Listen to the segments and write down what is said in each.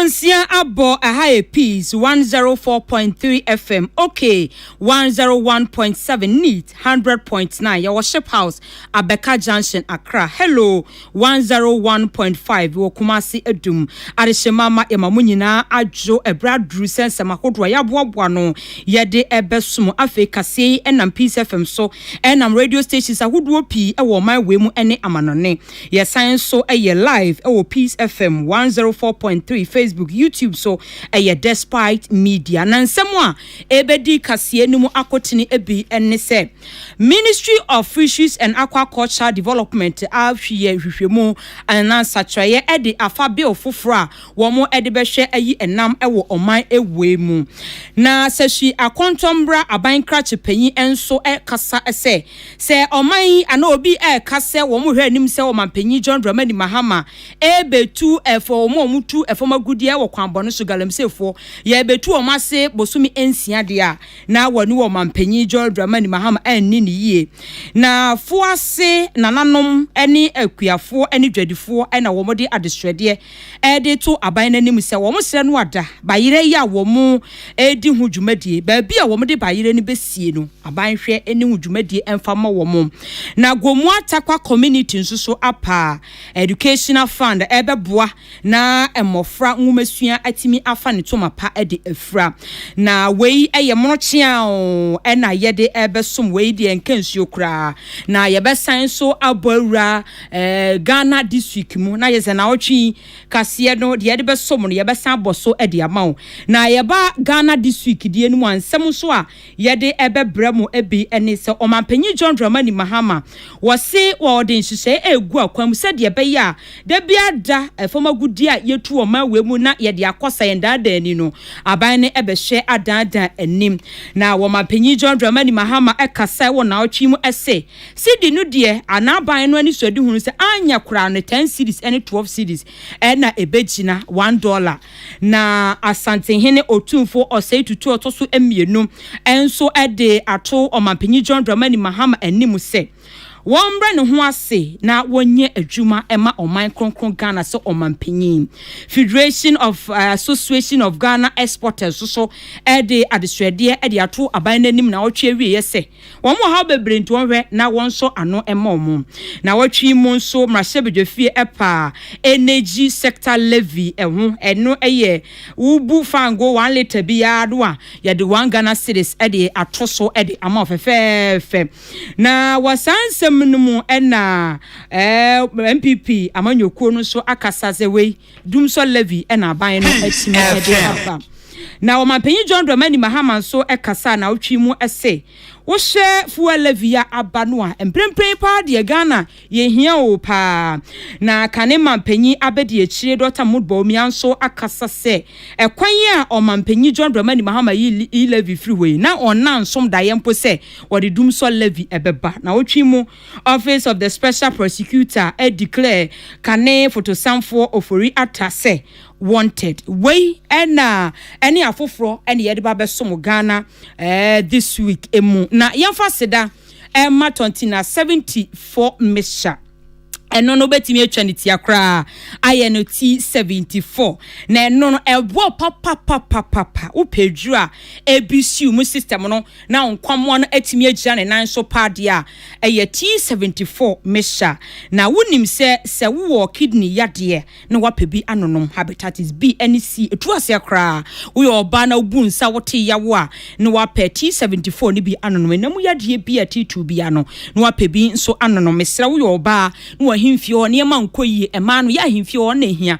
Nsia abɔ ɛha yɛ peace one zero four point three fm ok one zero one point seven neat one hundred point nine yɛwɔ ship house abɛka junction accra hello one zero one point five wɔ kumasi adum adehyema ma yɛma mo nyinaa adwo ɛbrɛ aduru sɛ nsɛm ahodoɔ a yɛaboaboa no yɛde ɛbɛso mo afei kaseɛ yi ɛnam peace fm so ɛnam radio stations ahodoɔ pii ɛwɔ ɔman wei mu ɛne amanɔne Yɛsan nso yɛ live wɔ Peace FM 104.3 Facebook, YouTube so ɛyɛ Despite Media. Na nsɛm a ɛbɛdi kaseɛ no mu akotene bi ne sɛ Ministry of Fisheries and Aquaculture Development ahweyɛ hwehwɛmu anaa nsakyerɛeɛ de afa bill foforɔ a wɔn de bɛhwɛ ayi ɛnam wɔ ɔman wei mu. Na Sɛhyi Akɔntɔmmra abankrakye panyin nso kasa sɛ Sɛ ɔman yi anaa obi reka sɛ wɔhwɛ anim sɛ Ɔmanpanyin John Dramani Mahama rebetu ɛfɔ wɔn a wɔtu fam agudeɛ wɔ kwan bɔne so, Galamseyfoɔ, yɛrebetu wɔn ase bosome nsia deɛ a, na wɔne Ɔmanpanyin John Dramani Mahama anni no yie. Na foase nananom ne akuafoɔ ne dwadifoɔ na wɔde adesrɛdeɛ de to aban no anim sɛ wɔsrɛ no ada bayerɛ yi a wɔredi ho dwumadie. Baabi a wɔde bayerɛ no bɛsie no, aban hwɛ ne ho dwumadie mfa mmɔ wɔn. Na Gomoa Takwa Community nso so apa Educational Fund ɛrebɛboa na mmɔfra nwomasua atumi afa ne toma pa de afira. Na wei yɛ mono kyeaa o, ɛna yɛde ɛrebɛsom wei deɛ nka nsuo koraa. Na yɛbɛsan nso abɔ awura. Ɛɛ Ghana district mu na yɛsɛ naawɔtwe yi kaseɛ no deɛ yɛde bɛsom no yɛbɛsan abɔ so de ama wo. Na yɛba Ghana district deɛ no mu a nsɛm nso a yɛde ɛbɛbrɛ mo ɛbi ne sɛ Ɔmanpanyin John Dramani Mahama wɔse wɔde nhyehyɛe ɛregu akwan mu sɛdeɛ ɛbɛyɛ a da biara da fam agudeɛ a yɛtu wɔ ɔman wei mu na yɛde akɔ sa yɛn daadaa ani no aban no ɛbɛhwɛ adaadaa anim. Na Ɔmanpanyin John Dramani Mahama ɛkasa wɔ naawɔtwe yi mu ɛse Cedi no deɛ a n'aban no anisoadehu no sɛ anyɛ koraa no ten cedis ne twelve cedis na ɛbɛgyina one dɔla. Na Asantehene Otumfoɔ Osei Tutu a ɔtɔ so mmienu nso de ato Ɔmanpanyin John Dramani Mahama anim sɛ wɔmmrɛ ne ho ase na wɔnyɛ adwuma mma ɔman kronkron Ghana sɛ Ɔmanpanyin. Federation of Association of Ghana Exporters nso de adesrɛdeɛ de ato aban no anim na ɔtwe awieɛ sɛ, Wɔn wɔ haw bebree nti wɔn hwɛ na wɔn nsɔ ano mma wɔn. Nawɔtwe yi mu nso mmarahyɛbedwafie ɛpaa energy sector levy ɛho ɛno ɛyɛ wo bu fango one litre bi yaa no a yɛde one Ghana cedis ɛde ato so ɛde ama wo fɛfɛɛfɛ na wɔ saa nsɛm no mu ɛna ɛɛ NPP amanyɔkuo no nso akasa sɛ wei Dum sɔ Levi na aban no atumi de aba. Na ɔmanpanyin John Dramani Mahama nso kasaa nnawɔtwe yi mu se, Wohyɛ Fua Levi a aba no a, mprempren yi paa deɛ Ghana yɛhia oo paa. Na kane manpanyin abadiakyire Dɔkta Mahmoud Bawumia nso akasa sɛ ɛkwan yi a ɔmanpanyin John Dramani Mahama yi Levi firi hɔ yi, na ɔnna nsom daeɛ mpo sɛ wɔde Dum sɔ Levi bɛba nnawɔtwe yi mu. Office of the Special Prosecutor declare kane fotosanfoɔ Ofori Atta sɛ wanted. Wei na ɛne afoforɔ na yɛde ba bɛsom Ghana this week mu. Na yɛmfa seda ɛma Tɔntina 74 Mixture. Ɛno no wobɛtumi atwa ne tia koraa ayɛ no ti 74. Na ɛno no ɛboɔ papapapapapa wopɛ aduru a ɛbisiw mu system no na nkwammoa no atumi agyina ne nan so paa deɛ a, ɛyɛ T seventy four mixture. Na wonim sɛ, sɛ wowɔ kidney yadeɛ na woapɛ bi anonom, hepatitis B ne C, ɛtu aseɛ koraa. Woyɛ ɔbaa na wobu nsa, wote yaw a, na woapɛ T seventy four no bi anonom. Ɛna mu yadeɛ bi a titiriw biara no, na woapɛ bi nso anonom. Mesrɛ, woyɛ ɔbaa na w'ahemfie hɔ nneɛma nkɔ yie, mmaa no, yɛ ahemfie hɔ na ɛhia.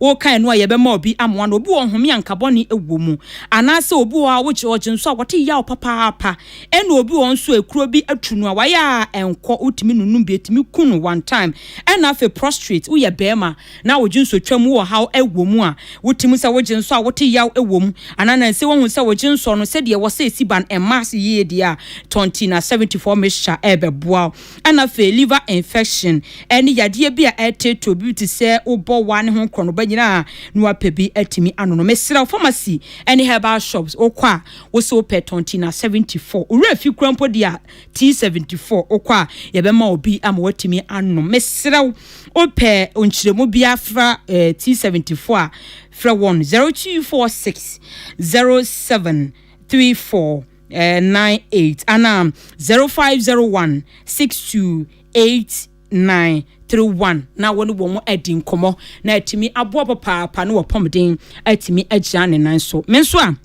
Wokan no a yɛbɛma obi amoa no, obi wɔ home a nka bɔne wɔ mu, anaasɛ obi wɔ hɔ a wogye ɔgye nso a wɔte yaw papaapa, ɛna obi wɔ hɔ nso a ekuro bi atu no a wayɛ a ɛnkɔ, wotumi nunum bi, etumi ku no one time, ɛna afei prostrate, woyɛ barima na wogye nso twa mu, ɔhaw wɔ mu a wote mu sɛ wogye nso a wote yaw wɔ mu, anaa nanse woahu sɛ wogye nsɔ no sɛdeɛ ɛwɔ sɛ esi ban mma ase yie deɛ a, Tontina seventy four mixture ɛrebɛboa wo. Ɛna afei liver infection ɛne yadeɛ bi a ɛreteetee obi te sɛ wobɔ waa ne ho korɔnoba nyinaa na wapɛ bi atumi ano no mesrɛ wo pharmacy ɛne herbal shops wokɔ a wo se wopɛ tɔn tea na 74 owura fi kura mpo deɛ a tea 74 wokɔ a yɛbɛma obi ama watumi anom mesrɛ wo wopɛ nkyerɛmu bi afra eh, tea 74 a frɛ wɔn 0246 07 34 nine eight ana zero five zero one six two eight nine three one na wɔne wɔn adi nkɔmɔ na atumi aboa papaapa na wɔpɔmden atumi agyina ne nan so me nso a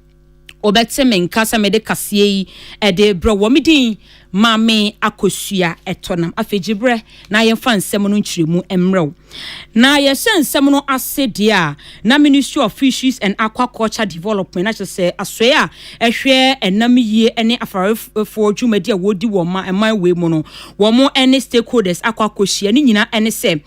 wɔbɛte me nka sɛ mede kaseɛ yi ɛde brɛ wɔ me din maame akosua ɛtɔ nam afei gye brɛ na yɛmfa nsɛm no nkyerɛmu mmerɛw Na yɛhyɛ nsɛm no ase deɛ a, na Ministry of Fisheries and Aquaculture Development, na kyerɛ sɛ asoɛe a ɛhwɛ ɛnam yie ne afarefoɔ dwumadi a wɔdi wɔ ma ɛman wei mu no, wɔn ne stakeholders akɔ akɔhyia. Ne nyinaa ne sɛ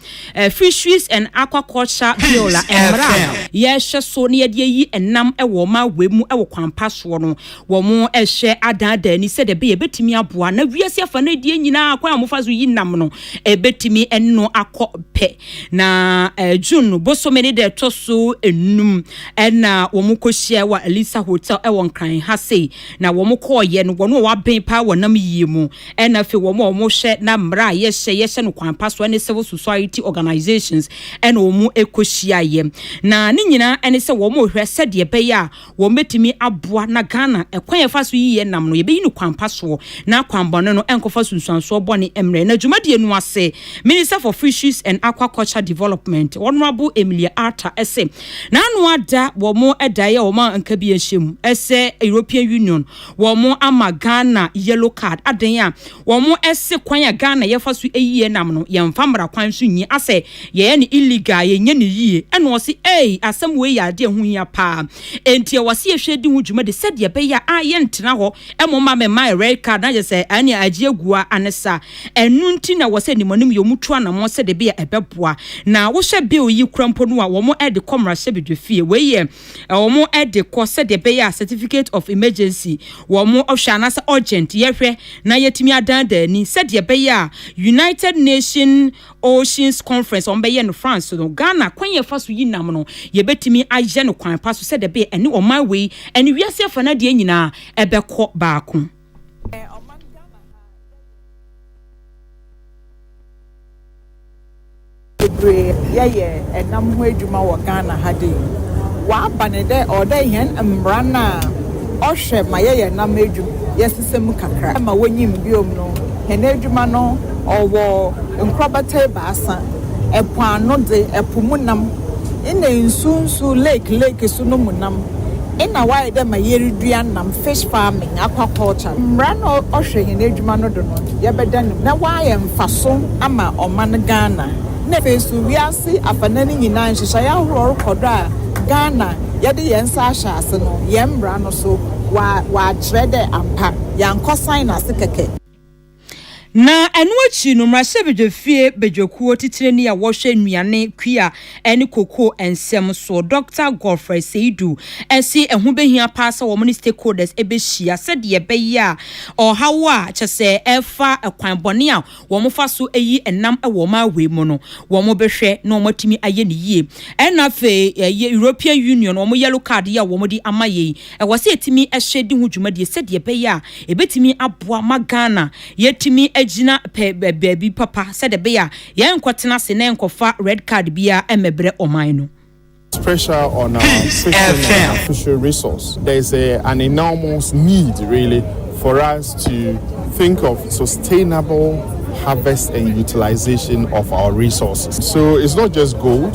Fisheries and Aquaculture Bill a mmara a yɛhwɛ so na yɛde ayi ɛnam wɔ ma wei mu wɔ kwan pa soɔ no, Wɔhwɛ adaadaa ani sɛdeɛ ɛbɛyɛ ɛbɛtumi aboa na wiase afa no adie nyinaa kwan a wɔfa so yi nam no ɛbɛtumi ɛne no akɔ pɛ. Na eh, June bosome ne deɛ ɛtɔ so enum ɛna wɔn kɔhyia wɔ Alisa Hotel ɛwɔ Nkran ha sei, na wɔn kɔɔyɛ no wɔn a wɔaben paa wɔ nam yie mu ɛna afei wɔn a wɔhwɛ na mmara a yɛhyɛ yɛhyɛ no kwan pa so ɛne civil society organisations ɛna wɔn kɔhyiaeɛ na ne nyinaa ɛne sɛ wɔn rehwɛ sɛdeɛ ɛbɛyɛ a wɔbɛtumi aboa na Ghana kwan a yɛfa so yi yɛ nam no yɛbɛyi no kwan pa soɔ na akwanbɔne no nkɔfa sunsuansoɔ bɔne mmrɛ no. Dwumadie no ase, Minister for Fisheries and Aquaculture Development, Honourable Emilia Arta se na ano ada wɔn daeɛ a wɔn anka bi nhyɛ mu sɛ European Union wɔn ama Ghana yellow card, adɛn a Wɔn se kwan a Ghana yɛfa so yie nam no yɛnfa mmara kwan so nyi asɛ yɛyɛ no illegal a yɛnyɛ no yie ɛna ɔse eei asɛm wei yɛ adeɛ a ɛho hia paa enti ɛwɔ se yɛhwɛ di ho dwumadi sɛdeɛ ɛbɛyɛ a yɛntena hɔ mmom ma mema yɛ red card na kyerɛ sɛ ɛne agye agu a ane sa ɛno nti na ɛwɔ sɛ animuanim yɛ wɔn tu anamɔn sɛdeɛ ɛbɛyɛ a ɛbɛboa na wohwɛ bill yi kura mpo no a wɔn de kɔ mmarahyɛbedwafie wei yɛ wɔde kɔ sɛdeɛ ɛbɛyɛ a certificate of emergency, wɔn ɔhwɛ anaasɛ urgent yɛhwɛ na yɛatumi adan da ani sɛdeɛ ɛbɛyɛ a United Nation Oceans Conference a wɔbɛyɛ no France no, Ghana kwan yɛ fa so yi nam no yɛbɛtumi ayɛ no kwan pa so sɛdeɛ ɛbɛyɛ ɛne ɔman wei ɛne wiase afa no adeɛ nyinaa ɛbɛkɔ baako. bebree yɛyɛ nam ho edwuma wɔ Ghana ha dɛ yi. Wɔaba no dɛ ɔwɔ dɛ hɛn mbra no a ɔhwɛ ma yɛyɛ nam edwum yɛsesa mu kakra ma wonyim bio no hɛn edwuma no ɔwɔ nkorbata ebiasa, po ano dze, po mu nam na nsu nsu, lake lake so no mu nam. Nna ɔayɛ dɛ ma yerudua nam, fish farming, aquaculture. Mbra na ɔhwɛ hɛn edwuma no do no, yɛbɛda no mu na ɔayɛ mfaso ama ɔman Ghana na afei so wiase afanan no nyina. Nhyehyɛɛ ahorow rokɔ do a Ghana yɛdze hɛn nsa ahyɛ ase no, hɛn mbra no so wɔakyerɛ dɛ ampa yɛannkɔsan no ase kɛkɛ. Na ɛno akyi no, mmarahyɛbadwafie badwakuo titenani a wɔhwɛ nnuane, kua ne kokoo nsɛm soɔ, Dɔkta Godfrey Seidu se ɛho bɛhia paa sɛ wɔn ne stakeholders bɛhyia sɛdeɛ ɛbɛyɛ a ɔhaw a kyɛ sɛ ɛfa kwan bɔne a wɔfa so yi nam wɔ wɔn awei mu no wɔbɛhwɛ na wɔatumi ayɛ no yie. Ɛna afei European Union wɔn yellow card yi a wɔde ama yei Ɛwɔ sɛ yɛtumi hyɛ di ho dwumadie sɛdeɛ ɛbɛyɛ a ɛbɛtumi aboa ma Ghana yɛatumi agyina pɛ baabi papa sɛdeɛ ɛbɛyɛ a yɛrenkɔtena ase na yɛrenkɔfa red card biara mmɛbrɛ ɔman no. Pressure on our system and our fishery resource. There is a, an enormous need really for us to think of sustainable harvest and utilization of our resources. So it's not just gold.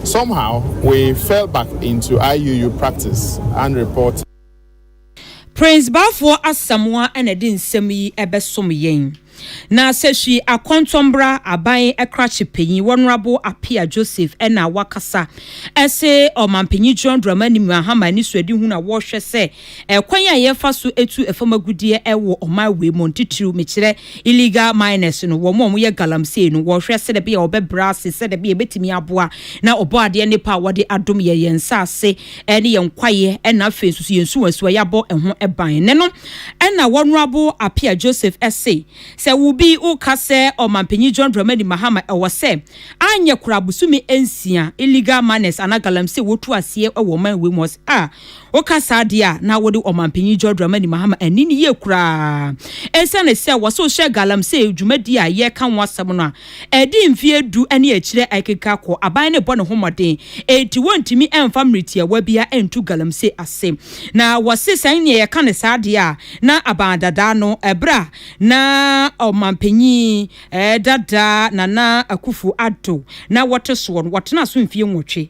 Somehow we fell back into IUU practice and reporting. Prince Baafoɔ Asamoa na ɛde nsɛm yi bɛsom yɛn. Na sɛ Hwi Akɔntɔnbra Aban Krakye Panyin Wɔnorabo Apea Joseph na wakasa se Ɔmanpanyin John Dramani Mahama anisoadihunu a wɔhwɛ sɛ Ɛkwan a yɛfa so tu fam agudeɛ wɔ ɔman wei mu no, titiriw mekyerɛ illegal miners no, wɔn a wɔyɛ galamsey no, wɔhwɛ sɛdeɛ ɛbɛyɛ a wɔbɛbrɛ ase, sɛdeɛ ɛbɛyɛ a ɛbɛtumi aboa na Ɔbɔadeɛ nnepa a wɔde adom yɛn, yɛn nsase ne yɛn kwaeɛ na afei nso so yɛn nsuwansuwa yɛabɔ ho ban ne no. Ɛna Wɔnerabo Appiah Joseph se, sɛ wo bi woka sɛ Ɔmanpanyin John Dramani Mahama ɛwɔ sɛ anyɛ koraa bosome nsia illegal miners anaa galamsey wɔtu aseɛ wɔ ɔman wei mu a, Woka saa deɛ a, na wode Ɔmanpanyin John Dramani Mahama anni no yie koraa. Esiane sɛ wɔse wohyɛ galamsey dwumadie a yɛreka ho asɛm no a, ɛde mfeɛ du ne akyire akeka kɔ, aban no rebɔ ne ho mmɔden, enti wɔntumi mfa mmere tiawa biara ntu galamsey ase. Na wɔse sɛ nea yɛka no saa deɛ a, na aban dada no, ɛberɛ a na Ɔmanpanyin dada Nana Akufo-Addo na wɔte soɔ no, wɔtenaa so mfeɛ nwɔtwe.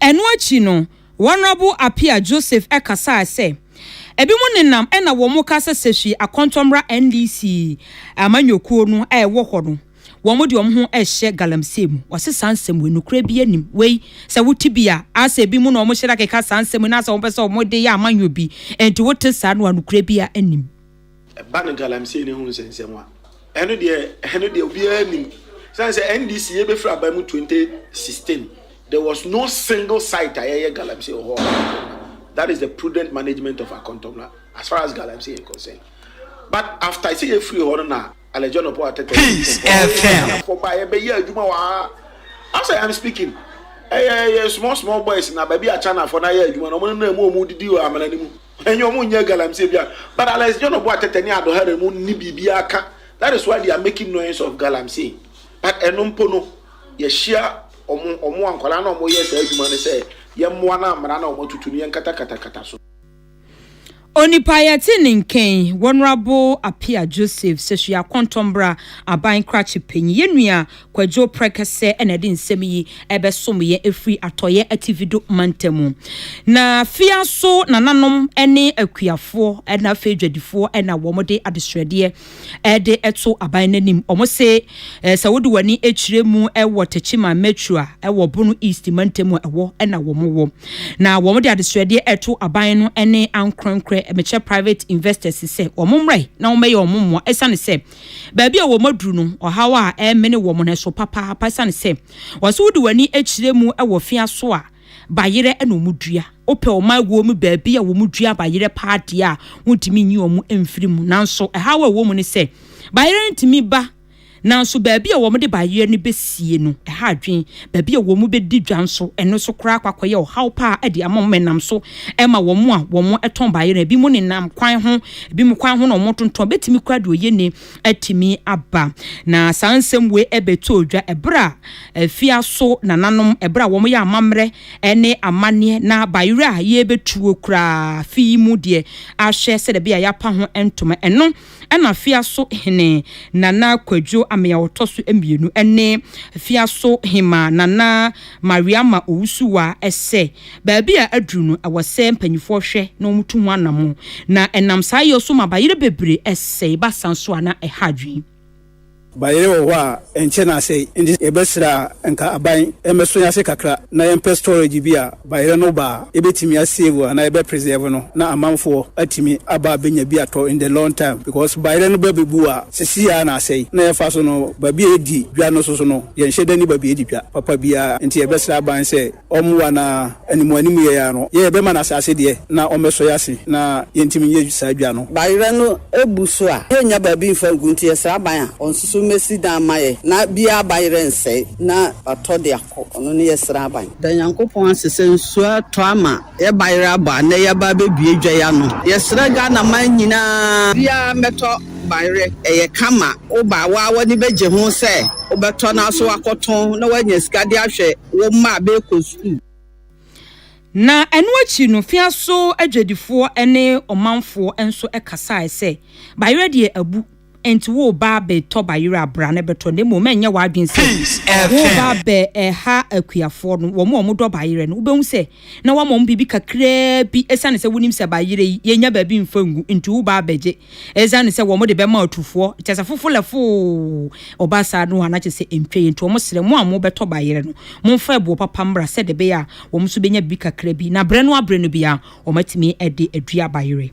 Ɛno akyi no, Honourable Appiah Joseph kasae sɛ, Ebinom nenam na wɔka sɛ Sefwi Akontɔ mmra NDC amanyɔkuo no a ɛwɔ hɔ no, wɔde wɔn ho rehyɛ galamsey mu. Wɔse saa nsɛm wei nokorɛ biara nnim. Wei sɛ wote bi a, asɛ ebinom na wɔhyɛ da keka saa nsɛm yi na asɛ wɔpɛ sɛ wɔde yɛ amanyɔ bi. Enti wote saa no a nokorɛ biara nnim. Ɛba no galamsey no ho nsɛnsɛm a, ɛno deɛ ɛno deɛ obiara nim. Sane sɛ NDC yɛbɛfiri aba mu 2016, there was no single site a yɛyɛ galamsey wɔ hɔ. That is the prudent management of Akontomla as far as galamsey is concerned. But after sɛ yɛfiri hɔ no na Alejandro Paul Ateta Peace FM. Kɔba yɛbɛyɛ adwuma wɔ ha. As I am speaking, ɛyɛ small small boys na baabi a Chinafoɔ no ayɛ adwuma no, wɔn nenam mu wɔn didi wɔ amena no mu. Enye ɔmo nyɛ galamsey bia but Alex John ɔbɔ atɛtɛ ne adɔhare mu nni biribiara ka that is why they are making noise of galamsey but ɛno mpo no yɛhyia ɔmo ɔmo a nkwadaa na ɔmo yɛ saa adwuma no sɛ yɛmmoa na mmara na ɔmo atutu no yɛnkatakatakata so. Onipa yɛte ne nken Wɔnerable Appiah Joseph Sesua Kɔntɔnbra Aban Krakye Panyin yɛn nua Kwadwo Prɛkɛsɛ na ɛde nsɛm yi bɛsom yɛn ɛfiri Atɔeɛ Ativido Mantamu. Na Fiaso nananom ne akuafoɔ na afei dwadifoɔ na wɔn de adesrɛdeɛ de to aban no anim. Wɔn se sɛ wode w'ani kyerɛ mu wɔ Techiman Metro a ɛwɔ Bono East Mantam a ɛwɔ na wɔn wɔ. Na wɔn de adesrɛdeɛ ɛto aban no ne ankorɛnkorɛ Mekyɛ Private Investors sɛ wɔn mmra yi na wɔn bɛyɛ wɔn mmoa ɛsiane sɛ Baabi a wɔn aduru no, ɔhaw a ɛremene wɔn no so papaapa esiane sɛ wɔse wode w'ani kyerɛ mu wɔ fea so a, bayerɛ na wɔdua. Wopɛ wɔn aguo mu baabi a wɔdua bayerɛ paa deɛ a, wontumi nyi wɔn mfiri mu. Nanso ɛhaw a ɛwɔ mu ne sɛ, bayerɛ no tumi ba nanso baabi a wɔde bayerɛ no bɛsie no, ɛha adwene. baabi a wɔbɛdi dwa nso, ɛno nso koraa akɔ akɔyɛ ɔhaw paa de ama wɔn. Ɛnam so ma wɔn a wɔtɔn baayɛ no, ebinom nenam kwan ho, ebinom kwan ho na wɔtontɔn, bɛtumi koraa de oyieni atumi aba. Na saa nsɛm wei bɛtɔɔ dwa ɛberɛ a afiaso nananom, ɛberɛ a wɔyɛ amammerɛ ne amanneɛ na bayerɛ a yɛrebɛtuo koraa, afe yi mu deɛ ahwɛ sɛdeɛ ɛbɛyɛ a yɛapa ho ntoma. Ɛno. ɛna Fiaso hene Nana Kwadwo Amee a ɔtɔ so mmienu ne Fiaso hemaa Nana Mariama Owusuwa sɛ baabi a aduru no ɛwɔ sɛ mpanyinfoɔ hwɛ na wɔtu ho anamɔ na ɛnam saa yɛ so ma bayerɛ bebree sɛe basa nso a na ɛha adwene. Bayerɛ wɔ hɔ a ɛnkyɛ na asɛe nti yɛbɛsrɛ a nka aban mmɛso yɛn ase kakra na yɛmpɛ storage bi a bayerɛ no ba a yɛbɛtumi a save anaa yɛbɛ preserve no na amanfoɔ atumi aba abɛnya bi atɔ in the long time because bayerɛ no ba bɛbu a sesei ara na asɛe na yɛfa so no baabi a yɛdi dwa no nso so no yɛnhyɛ da nni baabi a yɛdi dwa papa biara nti yɛbɛsrɛ aban sɛ Ɔmmoa na animuanim yɛn ara no, yɛn yɛbɛma no asase deɛ na ɔmmɛsɔ yɛn ase na yɛntumi nyɛ saa dwa no. Bayerɛ no bu so a, yɛnnya baabi mfa ngu nti yɛsrɛ aban a ɔnsusu mmɛsi dan mma yɛn na biara bayerɛ nsɛe na watɔ de akɔ, ɔno ne yɛsrɛ aban. Da Nyankopɔn ase sɛ nsuo atɔ ama yɛn bayerɛ abɔ a nnɛ yɛaba abɛbue dwa yi ano. Yɛsrɛ Ghana man nyinaa biara mmɛtɔ bayerɛ, ɛyɛ kama, woba a woa w'ani bɛgye ho sɛ wobɛtɔ nanso wakɔtɔn na woanya sika de ahwɛ. wo mma a bɛrekɔ sukuu. Na ɛno akyi no, Fiaso adwadifoɔ ne ɔmanfoɔ nso kasaeɛ sɛ, Bayerɛ deɛ abu, enti woreba abɛtɔ bayerɛ a, bra na bɛtɔ, na mmom ɛnyɛ w'adwene sɛ woreba abɛha akuafoɔ no, wɔn a wɔdɔ bayerɛ no, wobɛhu sɛ na wɔama wɔn biribi kakraa bi, ɛsiane sɛ wonim sɛ bayerɛ yi, yɛnnya baabi mfa ngu, nti woreba abɛgye. Esiane sɛ wɔde bɛma ɔtufoɔ, kyerɛ sɛ fofo lɛfoo, ɔba saa no a, na kyerɛ sɛ ɛntwa yie. Nti wɔsrɛ, mo a mobɛtɔ bayerɛ no, momfa ɛboɔ papa mmra sɛdeɛ ɛbɛyɛ a wɔn nso bɛnya biribi kakra bi. Na berɛ no ara berɛ no bi ara, wɔatumi de adua bayerɛ.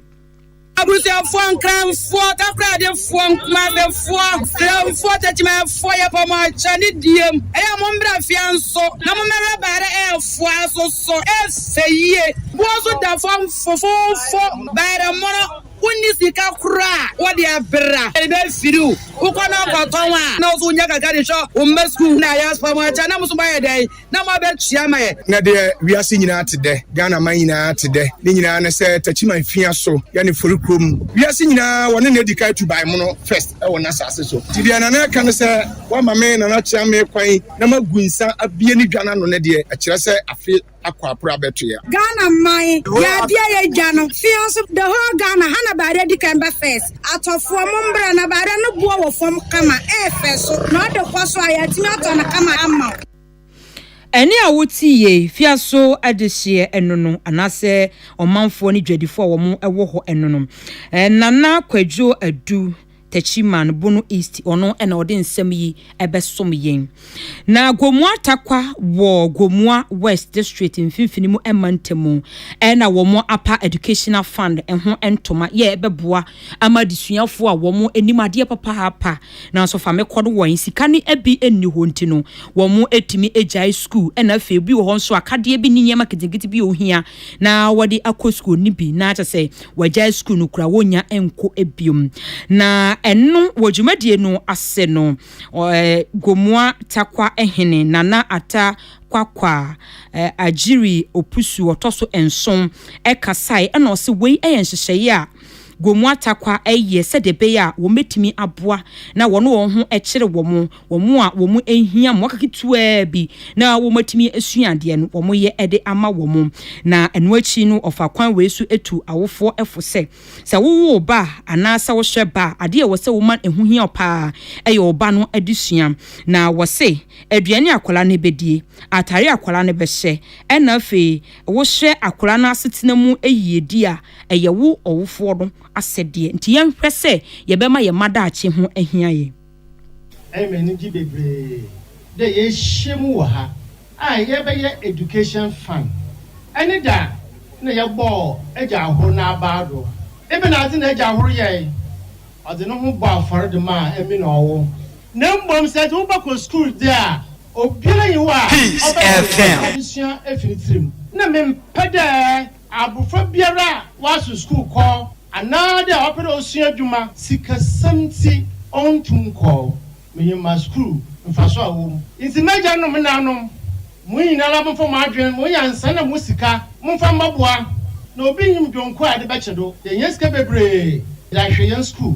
Abusuafoɔ, Nkranfoɔ, Takoradefoɔ, Nkumabefoɔ, Kramfoɔ, Takyimaɛfoɔ, yɛbɔ mo akyɛ ne diem. Ɛyɛ a mommra afea nso na mommɛhwɛ bayerɛ ɛɛfoɔ ɛso so, ɛɛfɛ yie. Boɔ nso da fam fofoofo, bayerɛ mono. Wonni sika koraa a wɔde abra a ebe firi wo wo kɔ na kɔ tɔn a na wo nso wonya kakra de hwɛ wo mma sukuu na ayɛ aspa mo akyɛ a na mo nso mo ayɛ dɛn na mo abɛ tua ma yɛ. Na deɛ wiase nyinaa te dɛ, Ghana man nyinaa te dɛ, ne nyinaa ne sɛ Takyiman fia so yɛ ne fori kurom. Wiase nyinaa wɔ ne na edi kan tuban mono first wɔ n'asase so. Nti deɛ Nana reka ne sɛ, Woama me Nana Kyeame kwan na magu nsa abie ne dwa no ano no deɛ, ɛkyerɛ sɛ afe akwaapra bɛtoɛ. Ghana man yɛ adeɛ yɛ dwa no fia nso the whole Ghana ha na baare adi kan ba first atɔfoɔ mo mbra na baare no boɔ wɔ fam kama ɛɛfɛ so na ɔde kɔ so a yɛatumi atɔ no kama ama wo. Ɛnne a wote yei, fia so adehyeɛ ɛno no anaasɛ ɔmanfoɔ ne dwadifoɔ a wɔn ɛwɔ hɔ ɛno no. Nana Kwadwo Adu. Techiman, Bono East, ɔno na ɔde nsɛm yi bɛsom yɛn. Na Gomua Takwa wɔ Gomua West District mfimfini mu mantamu na wɔn apa Educational Fund ho ntoma yɛ bɛboa ama adesuafoɔ a wɔn anim adeɛ papaapa nanso fa me kɔ no wɔn sika no bi nni hɔ nti no wɔn atumi agyae sukuu na afei bi wɔ hɔ nso akadeɛ bi ne nneɛma ketekete bi ohia na wɔde akɔ sukuu no bi na kyɛ sɛ wɔagyae sukuu no koraa, wɔnnya nkɔ bio. Na ɛno wɔ dwumadie no ase no, Gomoa Takwa hene Nana Ata Kwakwa Agyiri Opusu ɔtɔ so nson kasae ɛna ɔse wei yɛ nhyehyɛeɛ a Gomoa Takwa yɛ sɛdeɛ ɛbɛyɛ a wɔbɛtumi aboa na wɔn wɔn ho kyere wɔn Wɔn a wɔn ahia mmoaka ketewaa bi na wɔatumi asua adeɛ no, wɔyɛ de ama wɔn. Na ɛno akyi no, wɔfa kwan wei so tu awofoɔ fo sɛ, sɛ wowo wo ba anaasɛ wohyɛ ba a, adeɛ a ɛwɔ sɛ woma ɛho hia wo pa ara yɛ wo ba no adesua. Na wɔse, aduane a akwadaa no bɛdie, atadeɛ a akwadaa no bɛhyɛ, ɛna afei wohyɛ akwadaa no asetena mu yiedie a, ɛyɛ wo ɔwofoɔ no asɛdeɛ. Nti yɛnhwɛ sɛ yɛbɛma yɛn mma daakye ho ahia yɛn. Ɛyɛ me anigye bebree dɛ yeehyia mu wɔ ha a yɛrebɛyɛ Education Fund ne dɛ a nna yɛbɔɔ Egya Ahor n'abaa do. Ebɛnadze na Egya Ahor yɛe? Ɔdze noho bɔɔ afɔr dze maa emi na ɔwo. Na mbom sɛ edze wo ba kɔ skuul dze a, obiara nnyi hɔ a ɔbɛma no adesua efi ne tsirmu. Nna memmpɛ dɛ Abofra biara a ɔaso skuul kɔ anaadɛ a ɔpɛ dɛ osua edwuma sikasɛm ntsi onntum nnkɔ menyimma skuul, mfaso a ɔwɔ mu. Ntsi m'egya nom m'nananom, mo nyinara momfa mo adwen, mo nyansa na mo sika momfa mbɔboa na obi nnyim dwonku a yɛdze bɛkye do, yɛnhia sika beberee dze ahwɛ hɛn skuul.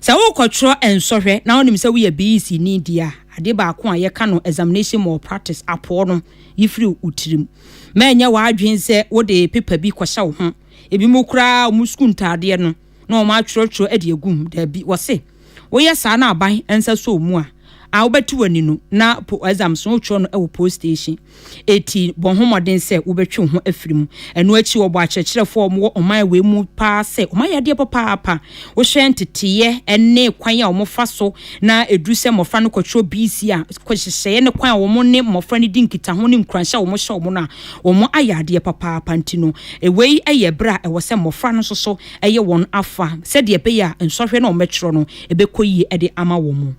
Sɛ worekɔtwerɛ nsɔhwɛ na wonim sɛ woyɛ BEC ni deɛ a, adeɛ baako a yɛka no Examination Malpractice, apoɔ no, yi firi wo tirim. Mma ɛnyɛ w'adwene sɛ wode pepa bi kɔhyɛ wo ho. Ebinom koraa, wɔn sukuu ntaadeɛ no na wɔatwerɛtwerɛ de agu mu. Dabi, wɔse woyɛ saa na aban nsa sɔ wo mu a, a wobɛte w'ani no na po exams no wotwerɛ no wɔ post station. Enti bɔ ho mmɔden sɛ wobɛtwe wo ho afiri mu. Ɛno akyi, wɔbɔɔ akyerɛkyerɛfoɔ a wɔwɔ ɔman wei mu paa sɛ wɔayɛ adeɛ papaapa. Wohwɛ nteteeɛ ne kwan a wɔfa so na ɛduru sɛ mmɔfra no kɔtwerɛ BC a, nhyehyɛeɛ ne kwan a wɔn ne mmɔfra no di nkitaho ne nkuranhyɛ a wɔhyɛ wɔn no a, wɔayɛ adeɛ papaapa. Nti no, wei yɛ berɛ a ɛwɔ sɛ mmɔfra no nso so yɛ wɔn afa sɛdeɛ ɛbɛyɛ a nsɔhwɛ no a wɔbɛtwerɛ no, ɛbɛkɔ yie de ama wɔn.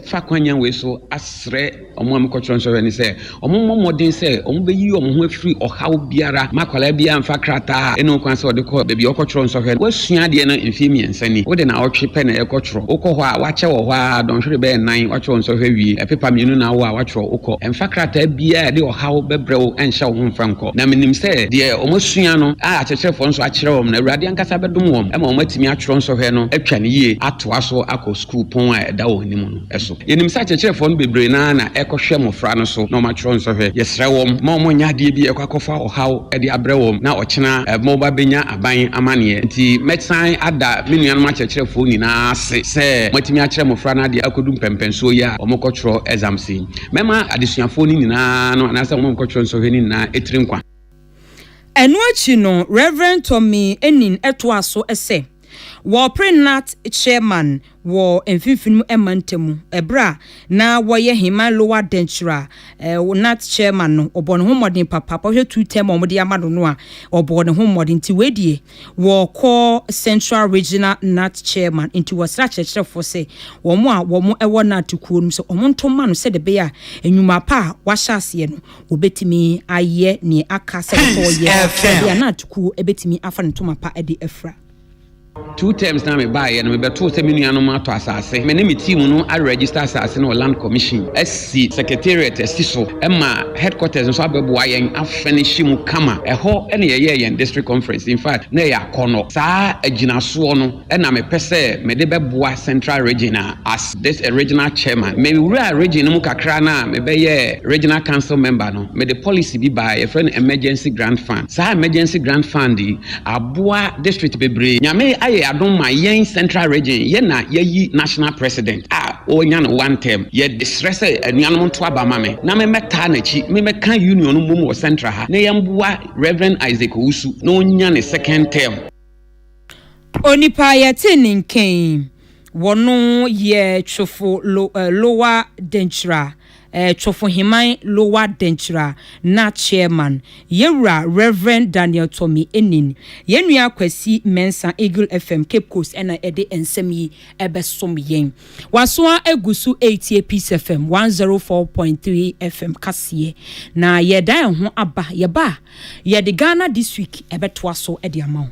fa kwanyan wei so asrɛ wɔn a mekɔtwerɛ nsɔhwɛ no sɛ wɔmmɔ mmɔden sɛ wɔbɛyi wɔn ho afiri ɔhaw biara ma akwadaa biara mfa krataa a ɛne wo kwan sɛ ɔde kɔ baabi a ɔkɔtwerɛ nsɔhwɛ no woasua adeɛ no mfeɛ mmiɛnsa ni wode na ɔtwe pɛ na ɛkɔtwerɛ wokɔ hɔ a wakyɛ wɔ hɔ a dɔnhwere bɛyɛ nan watwerɛ nsɔhwɛ wie ɛpepa mmienu na awo a watwerɛ wokɔ ɛmfa krataa biara a ɛde ɔhaw bɛbrɛ wo ɛnhyɛ wo ho mfa nkɔ na menim sɛ deɛ wɔasua no a akyerɛkyerɛfoɔ nso akyerɛ wɔn no awurade ankasa bɛdom wɔn ma wɔn atumi atwerɛ nsɔhwɛ no atwa ne yie atoa so akɔ kuropɔn a ɛda wɔn anim no so. Yɛnim sɛ akyerɛkyerɛfoɔ no bebree no ara na ɛkɔhwɛ mmɔfra no so na wɔatwerɛ nsɔhwɛ. Yɛsrɛ wɔn ma wɔnyɛ adeɛ bi a ɛkɔ akɔfa ɔhaw de abrɛ wɔn na ɔkyena ma wɔba bɛnya aban amanneɛ. Enti mɛsan ada me nuanom akyerɛkyerɛfoɔ nyinaa ase sɛ moatumi akyerɛ mmɔfra no adeɛ akɔdu mpɛnpɛnsoɔ yi a wɔkɔtwerɛ exams yi. Mɛma adesuafoɔ no nyinaa no anaasɛ wɔn a wɔkɔtwerɛ nsɔhwɛ no nyinaa tiri nkwa. Ɛno akyi no, Rev. Tommy Enin toa so sɛ, Wɔpere Nat Sherman wɔ Mfinfini Mantam bere a na wɔyɛ Heman Lower Denkyira a Nat Sherman no, ɔbɔɔ ne ho mmɔden papa, bɔhwɛ two term a wɔde ama no no a ɔbɔɔ ne ho mmɔden nti wei deɛ wɔkɔ Central Regional Nat Sherman nti wɔsrɛ akyerɛkyerɛfoɔ sɛ wɔn a wɔn wɔ Nat kuo no sɛ wɔn nto ma no sɛdeɛ ɛbɛyɛ a nnwuma pa a wahyɛ aseɛ no Obetumi ayɛ nea aka sɛ ɔsɛ ɔyɛ baabi a na atukuo betumi afa ne ntoma pa de afira. Two terms na me baeɛ no mebɛtoo sɛ me nuanom atɔ asase. Me ne me team no a register asase no wɔ land commission asi secretariat asi so ma headquarters nso abɛboa yɛn a furnish mu kama. Ɛhɔ na yɛyɛɛ yɛn district conference. In fact na ɛyɛ akɔnɔ. Saa agyinasoɔ no na mepɛ sɛ mede bɛboa Central Region a as this a regional chairman. Mewuraa region no mu kakra no a mebɛyɛɛ regional council member no, mede policy bi baeɛ, yɛfrɛ no emergency grant fund. Saa emergency grant fund yi aboa district bebree. Nyame ayɛ adom ma yɛn Central Region, yɛn na yɛayi national president a ɔrenya no one term. Yɛsrɛ sɛ anuanom nto aba ma me na memmɛtaa n'akyi, memmɛka union no mmom wɔ Central ha na yɛmmoa Rev. Isaac Owusu na ɔnya ne second term. Onipa a yɛtee ne nkɛn wɔ no yɛ Twofo Lo, eh, Lowa Denkyira, eh, Twofoheman Lowa Denkyira na Chairman, yɛ wura Rev. Daniel Tommy Enin. Yɛn nua Kwasi Mensah, Eagle FM, Cape Coast ɛna ɛde nsɛm yi ɛbɛsom yɛn. Wasoa agu so ɛretie Peace FM 104.3 FM kaseɛ. Na yɛda ɛho aba, yɛba a, Yɛde Ghana This Week bɛtoa so de ama wo.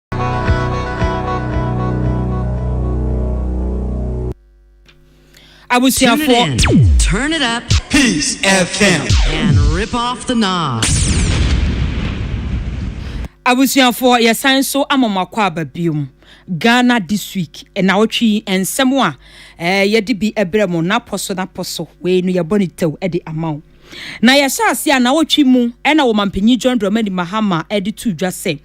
abusuafoɔ Turn it up Peace FM. and rip off the knob. abusuafoɔ yɛsan so ama mo akɔ aba biom ghana this week nawɔtwe yi nsɛm a eh, yɛde bi brɛ mo napɔ so napɔ so wei no yɛbɔ ne tɛw de ama wo na yɛhyɛ ase a nawɔtwe mu ɛna wɔ mampanyin john dramani mahama de to dwa sɛ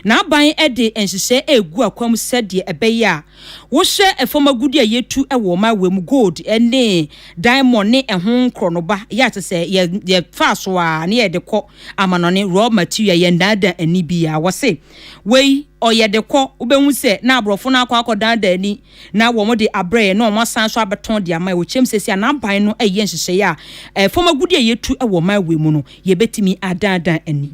N'aban de nhyehyɛe regu akwam sɛdeɛ ɛbɛyɛ a wohyɛ fam agudeɛ a yɛtu wɔ Mawe mu, gold ne diamond ne ɛho nkorɔnoba, yɛ a te sɛ yɛ yɛfa so a ne yɛde kɔ amanɔne, raw material, yɛnnaadaa ani biara. Wɔse wei ɔyɛ de kɔ, wobɛhu sɛ na aborɔfo no akɔ akɔdaadaa ani na wɔn de abrɛ yɛn na wɔn asan so abɛtɔn de ama yɛn. Wɔkyerɛm sɛ sɛ n'aban no yɛ nhyehyɛe a fam agudeɛ a yɛtu wɔ Mawe mu no, yɛbɛtumi adaadaa ani.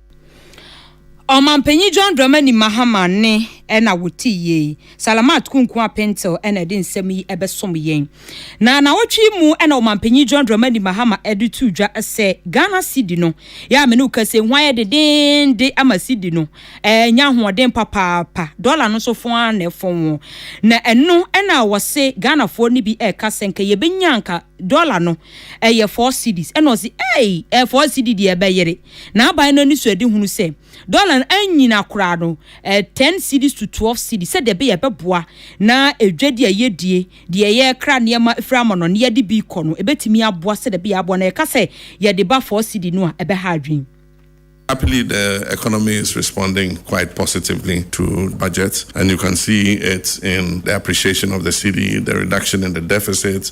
Ɔmampanyin John Dramani Mahama ne na wotii yei. Salamat Kunku Apentil na ɛde nsɛm yi bɛsom yɛn. Na nnawɔtwe yi mu na Ɔmampanyin John Dramani Mahama de too dwa sɛ Ghana cedi no, yɛ a me ne wo kasa yi, ho ayɛ dedeende ama cedi no anya ahoɔden papaapa. Dɔla no nso fon ara na ɛfon wɔn. Na ɛno na wɔse Ghanafoɔ no bi ɛreka sɛ nka yɛbɛnya nka dɔla no ɛyɛ four cedis. Ɛna ɔse, ei, ɛyɛ four cedi deɛ ɛbɛyere. N'aban no anisoadehunu sɛ dɔla no anyina koraa no, ɛyɛ ten cedis to twelve cedis, sɛdeɛ ɛbɛyɛ a ɛbɛboa na dwadi a yɛdie, deɛ yɛkra nneɛma firi amɔnɔ na yɛde bi rekɔ no, ɛbɛtumi aboa sɛdeɛ ɛbɛyɛ a aboa na yɛka sɛ yɛde ba four cedi no a, ɛbɛha adwene. Happily the economy is responding quite positively to budget and you can see it in the appreciation of the cedi, the reduction in the deficit,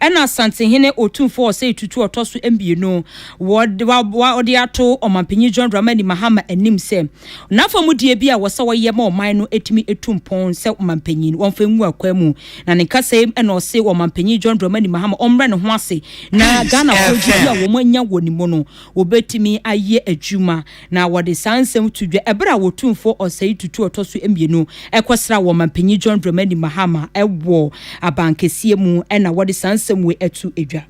Ɛna Asantehene Otumfoɔ Osei Tutu a ɔtɔ so mmienu wɔ de ato Ɔmanpanyin John Dramani Mahama anim sɛ n'afamudie bi a wɔ sɛ ɔyɛ ma ɔman no ɛtumi ɛtu mpɔn sɛ Ɔmanpanyin wɔmfa ngu akwan mu. Na ne nkasa yi mu ɛna ɔse Ɔmanpanyin John Dramani Mahama ɔmmrɛ ne ho ase na Ghanafoɔ gyidie a wɔn anya wɔ ne mu no wɔbɛtumi ayɛ adwuma na wɔde saa nsɛm to dwa bere a Otumfoɔ Osei Tutu a Ɔtɔ so Mmienu kɔsraa wɔn Manpanyin John Dramani Mahama wɔ abankɛseɛ mu na wɔde saa nsɛm wei to dwa.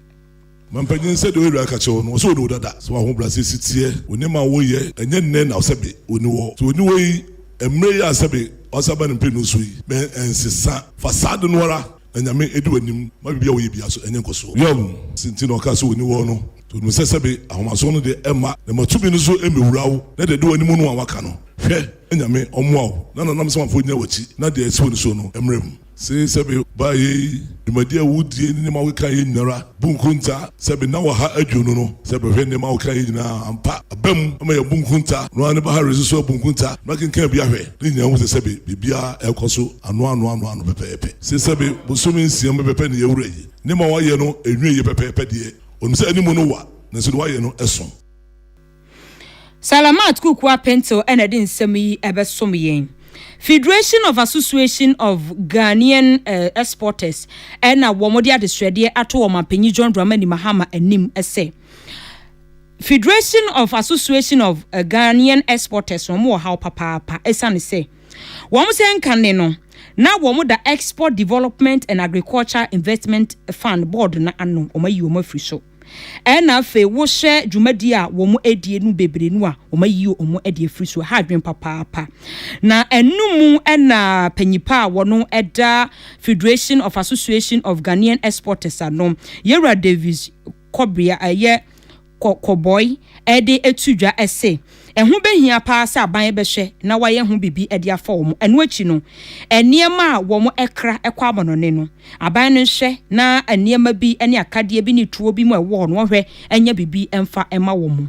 Manpanyin, sɛdeɛ w'awuraa ka kyerɛ wo no, ɔsɛ ɔni wo dada. Sɛ w'ahobrɛaseɛ si teɛ, ɔnim ma woyɛ, ɛnyɛ nnɛ na sɛbe ɔni hɔ. Sɛ ɔni hɔ yi, mmerɛ yi a sɛbe wasan aba ne mprenu so yi, mensesa. Fa saa ade no ara Na Nyame adi w'anim ma biribi a woyɛ biara so anya nkɔsoɔ. Yoab hu se nti na ɔkaa sɛ ɔni wɔɔ no, nti ɔnim sɛ sɛbe ahomasoɔ no deɛ ɛmma, na ma tumi no so mmɛwura wo, na deɛ ɛdi w'anim no a woaka no, hwɛ, na Nyame ɔmmoa wo, na na n'amsamafo nnyina w'akyi, na deɛ ɛsi w'ani soɔ no mmra mu. Se sɛbe baa yei, dwumadie a wodie ne nneɛma a wokaaeɛ nyinara, bu nkonta, sɛbe nna wɔ ha aduonu no, sɛbe hwɛ nneɛma a wokaaeɛ nyinaa, ampa, aba mu, ama yɛabu nkonta, noaa ne Baharese nso abu nkonta, na kenkan bi ahwɛ, na nyinaa hu sɛ sɛbe biribiara ɛrekɔ so. Anoanoanoano pɛpɛɛpɛ. Sesɛme bosome nsia mu pɛpɛpɛ na yɛawura yi. Nneɛma a wɔayɛ no nwiei pɛpɛɛpɛ deɛ, ɔnim sɛ anim no wa, nanso deɛ wɔayɛ no som. Salamat Kukua Pinto na ɛde nsɛm yi bɛsom yɛn. Federation of Association of Ghanaian Exporters na wɔde adesrɛdeɛ ato Ɔmanpanyin John Dramani Mahama anim sɛ, Federation of Association of Ghanaian Exporters no, wɔwɔ haw papaapa esiane sɛ, Wɔn sɛ nkanne no, na wɔda Export Development and Agriculture Investment Fund Board no ano, wɔayi wɔn afiri so. Ɛna afei wohwɛ dwumadi a wɔn adie no bebree no a, wɔayi wɔn adi afiri so. Ɛha adwene papaapa. Na ɛno mu ɛna panyipa a wɔn ɛda Federation of Association of Ghanaian Exporters ano, Yewura Davis kɔbea yɛ kɔ kɔbɔe de to dwa se ɛho behia paa sɛ aban bɛhwɛ na wɔayɛ ho biribi de afa wɔn. Ɛno akyi no, nneɛma a wɔkra kɔ amannɔne no, aban no nhwɛ na nneɛma bi ne akadeɛ bi ne tuo bi mu a ɛwɔ hɔ no wɔhwɛ nya biribi mfa ma wɔn.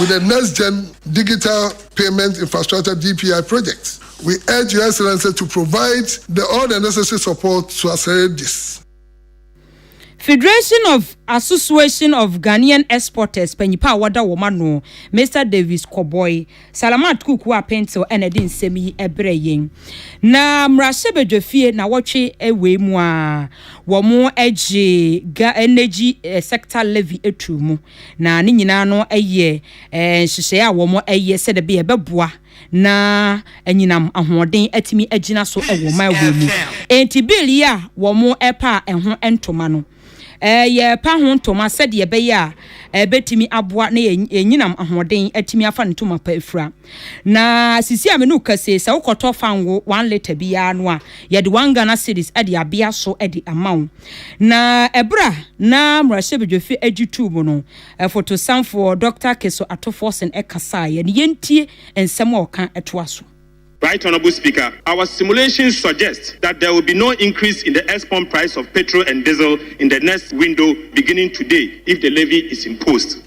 With the Next Gen Digital Payment Infrastructure, DPI, project, we urge Your Excellency to provide the all the necessary support to accelerate this. Federation of Association of Ghanaian Exporters panyimpa a wɔda wɔn ano, Mister Davis Kɔbɔe, Salamat Kuku Apentew na ɛde nsɛm yi brɛ yɛn. Na mmarahyɛbadwafie na wɔtwe wei mu a, wɔagye ga energy sector levy atuu mu. Na ne nyinaa no yɛ nhyehyɛe a wɔyɛ sɛdeɛ ɛbɛyɛ ɛbɛboa na anyinam ahoɔden atumi agyina so wɔ ɔman wei mu. Enti bill yi a wɔrepa a ɛho ntoma no, yɛrepa ho ntoma sɛdeɛ ɛbɛyɛ a ɛbɛtumi aboa na anyinam ahoɔden atumi afa ne ntoma pa afira. Na sisi a me ne wo kasa yi, sɛ wokɔtɔ fango one litre bi ara no a, yɛde one Ghana cedis de abea so de ama wo. Na ɛberɛ a na mmarahyɛbadwafi agye tuu mu no, fotosanfoɔ Dɔkta Keso Ato Forson kasaeɛ no, yɛntie nsɛm a ɔka toa so. Right Honourable Speaker, our simulations suggest that there will be no increase in the ex-pump price of petrol and diesel in the next window beginning today if the levy is imposed.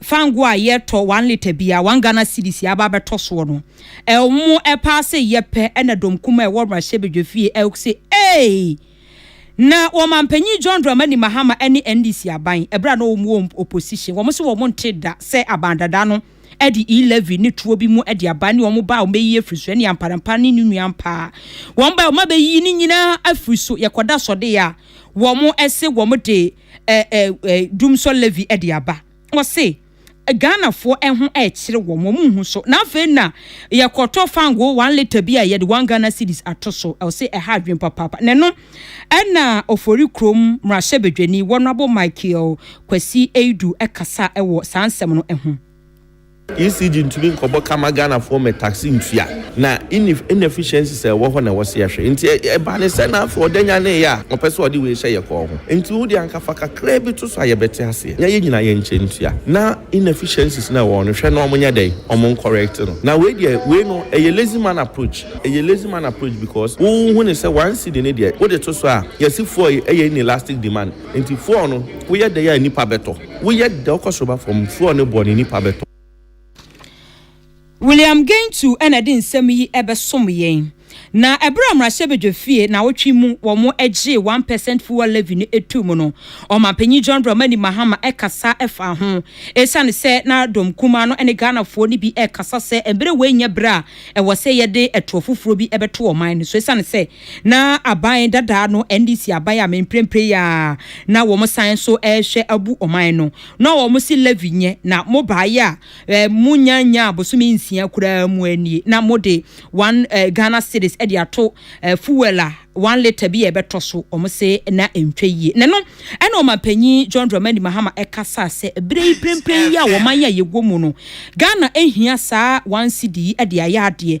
fa ngo a yɛtɔ one litre bia one Ghana cedis yɛaba abɛtɔ soɔ no ɛwmo ɛpaa se yɛpɛ ɛna dɔm kuma ɛwɔ mmarahyɛbadwa fie ɛwk se eei na ɔmanpanyin John Dramani Mahama ɛne NDC aban ɛberɛ a na ɔwɔ mu wɔ opposition wɔn se wɔn nte da sɛ aban dada no ɛde e levy ne tuo bi mu ɛde aban ne wɔn baa wɔn bɛyi afiri so ɛne amparampa ne ne nua mpaa wɔn baa wɔn abɛyi ne nyinaa afiri so yɛkɔda sɔde a wɔn ɛse wɔn de dum sɔ Levi de aba. Wɔse Ghanafoɔ ɛho ɛkyere wɔn, wɔn nhu so. Na afei na yɛkɔtɔ fango one liter bi a yɛde one Ghana cedis ato so. Ɛwɔse ɛha adwene papaapa. Na ɛno ɛna Ofori kurom mmarahyɛbadwani wɔnabo Michael Kwasi Eidu ɛkasa ɛwɔ saa nsɛm no ɛho. ECG ntumi nkɔbɔ ka ma Ghanafoɔ ma taxi ntua. Na inef inefficiencies a ɛwɔ hɔ na ɛwɔ sɛ yɛhwɛ. Nti ɛ ɛbaa ne sɛ na afei ɔda nyaneeɛ a ɔpɛ sɛ ɔde wei hyɛ yɛ kɔɔ ho. Nti wo deɛ anka fa kakraa bi to so a yɛbɛte aseɛ na yɛn nyinaa yɛnkyɛ ntua na inefficiencies no a ɛwɔ hɔ no hwɛ na wɔnyɛ dɛn, wɔn ncorrect no. Na wei deɛ wei no ɛyɛ lazy man approach. Ɛyɛ lazy man approach because wo wohu no sɛ one cedi no deɛ wode to so a yɛse fuel yɛ ɛyɛ inelastic demand. Nti fuel no woyɛ dɛn a nnipa bɛtɔ. Woyɛ dɛ wokɔ soro ba fam. Fua ɔne boɔ ne nipa bɛtɔ. William Geintu na ɛde nsɛm yi bɛsom yɛn. Na ɛberɛ a mmarahyɛbadwa fie nawɔtwe mu wɔn gyee one percent fuel levy no too mu no, Ɔmanpanyin John Dramani Mahama kasa faa ho. Ɛsiane sɛ na dɔm kumaa no ne Ghanafoɔ no bi rekasa sɛ mberɛ wei nyɛ berɛ a ɛwɔ sɛ yɛde toɔ foforɔ bi bɛto ɔman no so ɛsiane sɛ Na aban dadaa no, NDC aban a mprempren yi ara na wɔsan nso rehwɛ abu ɔman no, na wɔse levy nyɛ, na mobaeɛ a eh, monnya nyaa bosome nsia koraa mu nie, na mode one eh, Ghana cedis de ato eh, fuel a one litre bi a ɛbɛtɔ so, wɔse na ɛntwa yie. Na ɛno ɛna ɔmanpanyin John Dramani Mahama kasa sɛ berɛ yi mprempren yi a wɔman a yɛwɔ mu no, Ghana nhia saa one cedi yi de ayɛ adeɛ,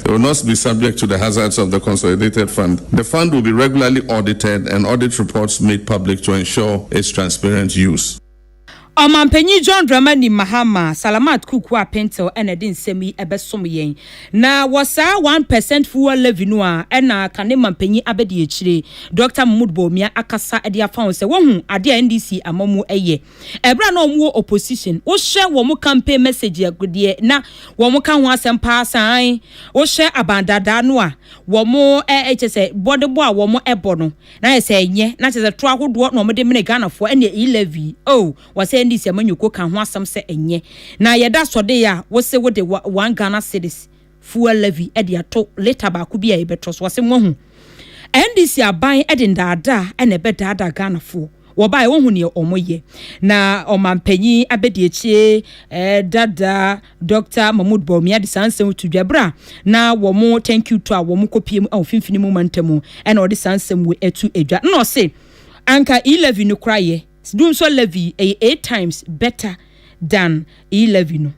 It will not be subject to the hazards of the consolidated fund. The fund will be regularly audited and audit reports made public to ensure its transparent use. Ɔmanpanyin John Dramani Mahama, Salamat Kuku a Pentel na ɛde nsɛm yi bɛsom yɛn. Na wɔ saa one percent fuel levy no a ɛna kane manpanyin abɛdi akyire, Doctor Mahmood Bawumia akasa de afa ho sɛ wahu ade a NDC ama mu yɛ. Ɛberɛ a na wɔn wɔ opposition wo hyɛ wɔn campaign message a deɛ na wɔn ka ho asɛm paa sane wo hyɛ abandaadaa no a wɔn ɛɛ kyɛ sɛ bɔdebɔ a wɔn ɛbɔ no na yɛ sɛ ɛnyɛ na kyɛ sɛ to ahodoɔ na wɔn de mene Ghana foɔ ɛne e levy oh wɔ sɛ ɛne sɛ manyoko ka ho asɛm sɛ ɛnyɛ na yɛda sɔde a wo se wo de one Ghana cities fuel levy de ato leta baako bi a yɛbɛtɔ so. Ɔse moahu NDC aban de ndaadaa na ɛbɛdaadaa Ghanafoɔ. Wɔbaeɛ wɔhu neɛ ɔmo yɛ. Na ɔmanpanyin abɛdiakyie eh, dada Doctor Mahmoud Bawumia de saa nsɛm to dwa berɛ a na wɔmo thank you to a wɔmo kɔpie mu wɔ mfimfini mu mantam mu ɛna ɔde saa nsɛm wei ɛto dwa na ɔse anka e-levy no kora yɛ. Dunsɔ levy ɛyɛ eight times better than e-levy no.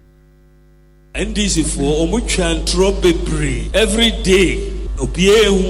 NDC foɔ ɔmo twa ntorɔ bebree every day obiaa ehu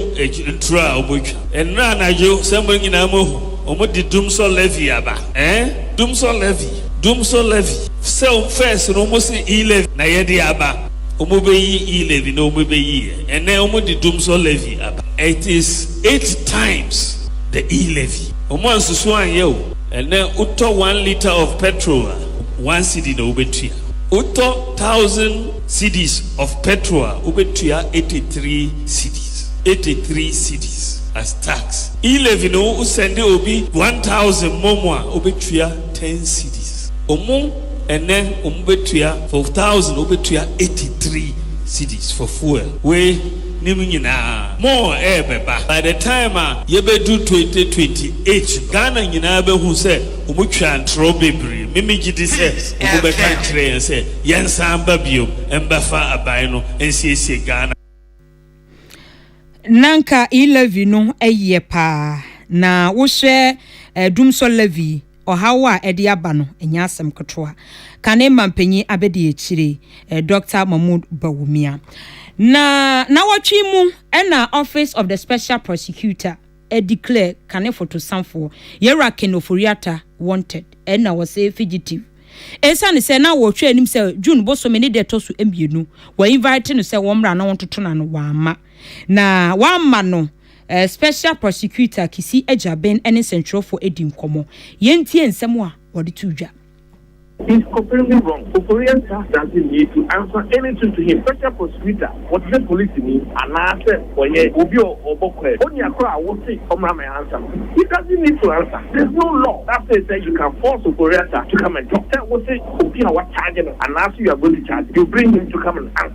ntorɔ a ɔmo twa ɛnrɛ anadwo sɛ mo nyinaa mo hu ɔmo de dumsɔ levy aba eh dumsɔ levy dumsɔ levy sɛ ɔmo first no ɔmo se e levy na yɛde aba ɔmo bɛ yi e levy na ɔmo bɛ yi yɛ ɛnɛ ɔmo de dumsɔ levy aba it is eight times the e levy ɔmo ansusu anyɛ o ɛnɛ wotɔ one litre of petrol a. one cedi na wobetua. Wotɔ thousand cedis of petrol a, wobetua eighty three cedis, eighty three cedis as tax. E-levy no, wo sɛnde obi one thousand mmom a, wobetua ten cedis. Omo ɛnɛ omo betua for thousand wobetua eighty three cedis for fuel. Wei nim nyinaa more ɛɛbɛba by the time a yɛbɛdu twenty twenty eight no Ghana nyinaa bɛhu sɛ Wɔtwaa ntorɔ bebree. Me megye di sɛ wɔbɛka akyerɛ yɛn sɛ yɛnsan mba biom mbɛfa aban no nsiesie Ghana. Na nka E-levy no yɛ paa. Na wohwɛ Dumsor levy, ɔhaw a ɛde aba no, ɛnyɛ asɛm ketewa. Kane mampanyin abadiakyire, Dɔkta Mahmood Bawumia. Na nnawɔtwe mu na Office of the Special Prosecutor, e declare kane fotosafoɔ Yerakin Ofori-Atta wanted ɛna ɔse figitive esiane sɛ na wɔhwɛ anim sɛ June bosome ne da ɛtɔ so mmienu wɔ invite no sɛ wɔmmra na wɔntoto no ano wamma na wamma no eh, Special Prosecutor Kissi Agyiraben ne nsɛntwerɛfoɔ adi nkɔmmɔ. Yɛntie nsɛm a wɔde too dwa. He's completely wrong, Koforia ntaa asase mmie to answer anything to him, special prosecutor, wɔtesɛ polisini anaasɛ wɔyɛ obi a ɔbɔ kwaam, onua koro a wose ɔmmra ma answer no, he doesn't need to answer, there's no law that says sɛ you can force Ofori-Atta to come and talk, sɛ wose obi a wɔacharge no anaasɛ you are going to charge, you bring him to come and answer.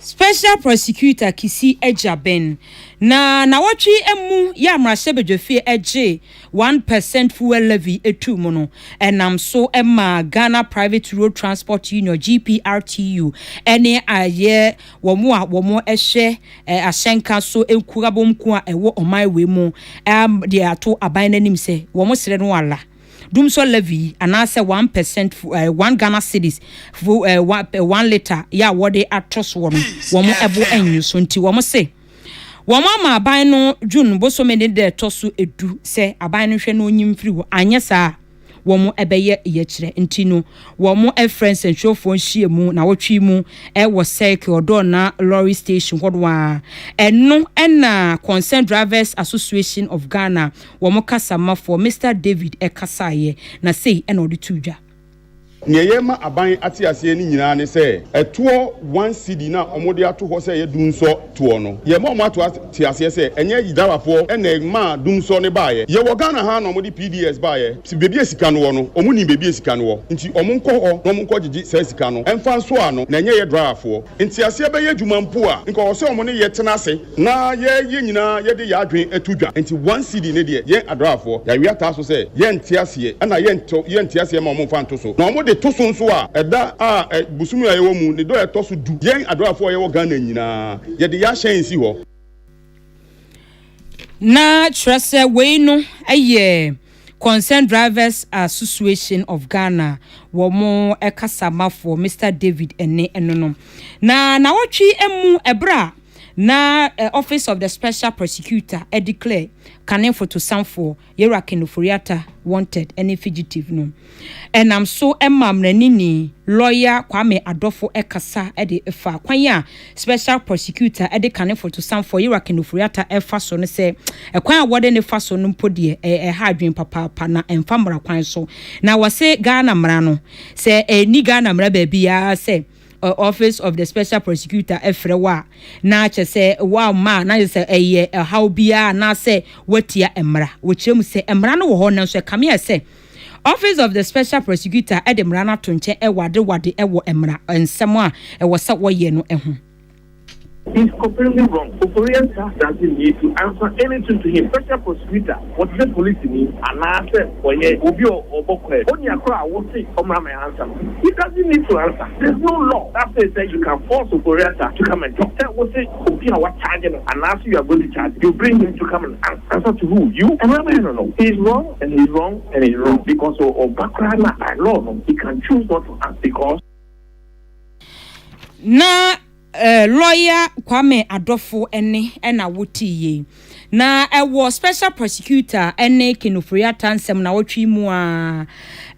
Special Prosecutor Kisi Agyabeng na nawɔtwe mu yɛ a mmarahyɛbadwafie gyee one per cent fuel levy too mu no nam so maa Ghana Private Road Transport Union, GPRTU, ne ayɛ wɔn a wɔhwɛ ahyɛnka so nkuabɔmkuo a ɛwɔ ɔman wei mu de ato aban no anim sɛ wɔsrɛ no ala. Dumsor levy anaasɛ one percent fu ɛɛ one Ghana cedis fu ɛɛ one ɛɛ one litre yɛ a wɔde ato soɔ no wɔn ɛbo ɛnnwo so nti wɔn se wɔn ama aban no June bosome ne da ɛtɔ so edu sɛ aban no nhwɛ na ɔnyi mfiri hɔ anyɛ saa a wɔn ɛbɛyɛ yɛkyerɛ nti no wɔn ɛfrɛ nsɛnkyerɛwfoɔ nhyiamu nawɔtwe yi mu ɛwɔ circle ɔdɔɔna lorry station hɔ no ara ɛno ɛna concerned drivers association of Ghana wɔn kasamafoɔ Mister David kasaeɛ, na sei na ɔde too dwa. Nea yɛrema aban ate aseɛ no nyinaa ne sɛ, ɛtoɔ one cedi no a wɔde ato hɔ sɛ ɛyɛ dumsɔ toɔ no, yɛrema wɔn ato ate aseɛ sɛ ɛnyɛ Yidawafoɔ na ɛmaa dumsɔ no baeɛ. Yɛwɔ Ghana ha ara na wɔde PDS baeɛ. Baabi a sika no wɔ no, wɔnim baabi a sika no wɔ, nti wɔnkɔ hɔ na wɔnkɔgyegye saa sika no mfa nsɔɔ ano, na ɛnyɛ yɛn drawafoɔ nteaseɛ bɛyɛ adwuma mpo a, nka ɔwɔ sɛ wɔne yɛn tena ase. Na yɛn yɛn nyinaa yɛde yɛn adwene ato dwa nti one CD ne deɛ yɛn adraafoɔ yɛawe ataa so sɛ yɛnte aseɛ ɛna yɛntɔ yɛnte aseɛ ma wɔmfa nto so na wɔde to so nso a ɛda a ɛ bosome a yɛwɔ mu ne dɔ a ɛtɔ so du yɛn adraafoɔ a yɛwɔ Ghana nyinaa yɛde yɛn ahyɛn si hɔ. Na kyerɛ sɛ wei no yɛ Concerned Drivers Association of Ghana wɔn kasamafoɔ Mister David Ene no no na nawɔtwe mu ɛberɛ a. na Office of the Special Prosecutor declare kane fotosanfoɔ Yewura Ken Ofori-Atta wanted ne fugitive no nam so maa mmaranini lɔya Kwame Adofo kasa de faa kwan a Special Prosecutor de kane fotosanfoɔ Yewura Ken Ofori-Atta refa so no sɛ kwan a wɔde no fa so no mpo deɛ ɛha adwene papaapa na ɛmfa mmara kwan so na wɔse Ghana mmara no sɛ ɛni Ghana mmara baabiara sɛ Office of the Special Prosecutor frɛ wo a, na kyerɛ sɛ woamma a, na kyerɛ sɛ ɛyɛ ɔhaw biara anaasɛ woatia mmara. Wɔkyerɛ mu sɛ, Mmara no wɔ hɔ, nanso ɛkame ayɛ sɛ Office of the Special Prosecutor de mmara no ato nkyɛn wɔ adewade wɔ mmara nsɛm a ɛwɔ sɛ wɔyɛ no ho. His completely wrong Koforeans saa asase nie tu ansa any soon to him special prosecutor wɔtesɛ polisini anaa sɛ ɔyɛ obi a ɔbɔ kwaad ɔni akoro a wose ɔmra ma ansa no he doesn't need to answer there's no law that says sɛ you can force Koforeasa to come and talk sɛ wose obi a wacharge no anaa sɛ you are going to charge you bring him to come and ans answer to who you ɛmra ma no no he is wrong and he is wrong and he is wrong because ɔba koraa no a by law no he can choose not to ans because. Na lɔya Kwame Adofo ne na wotee yei. Na ɛwɔ special prosecutor ne Ken Ofori-Atta nsɛm nawɔtwe mu a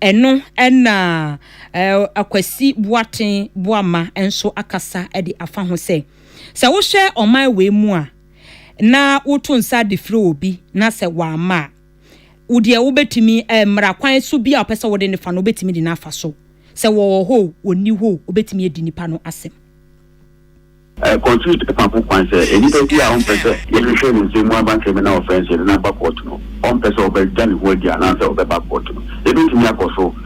ɛno na Akwasi Boateng Boamah nso akasa de afa ho sɛ, sɛ wohwɛ ɔman wei mu a na woto nsa de frɛ obi na sɛ wamma a, wo deɛ wobɛtumi eh, mmara kwan so bi a ɔpɛ sɛ wode ne fa no wobɛtumi de no afa so sɛ wɔwɔ hɔ o wɔnni hɔ o wobɛtumi adi nipa no asɛm. Eh, constitute ɛfa ho kwan sɛ eh, nipa bi a ɔmpɛ sɛ yɛhwehwɛ ne nsɛm mu aba criminal offence yɛde no aba court no ɔmpɛ sɛ ɔbɛgya ne ho adi anaasɛ ɔbɛba court no yɛbɛtumi akɔ so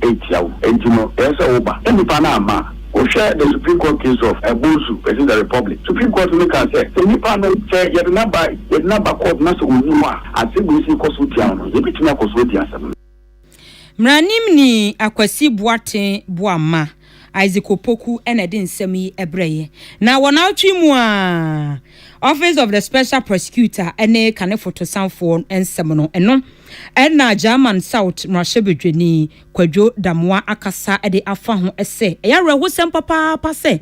etia wo enti no ɛyɛ sɛ wo ba na nipa no amma a. Wo hwɛ the Supreme Court case of Bosu versus the Republic, Supreme Court no kaa sɛ sɛ nipa no sɛ yɛde no aba yɛde no aba court na sɛ onni hɔ a asɛm wei sɛ ɛkɔ so tia no no yɛbɛtumi akɔ so adi asɛm no. Mmaranim ni Akwasi Boateng Boamah Isaac Opoku na ɛde nsɛm yi brɛeɛ. Na wɔ naawɔtwe mu ara, Office of the Special Prosecutor ne Kane Fotosanfoɔ nsɛm no, ɛno na German South Mmarahyɛbadwani Kwadwo Damoah akasa de afa ho sɛ ɛyɛ awerɛhosɛm papaapa sɛ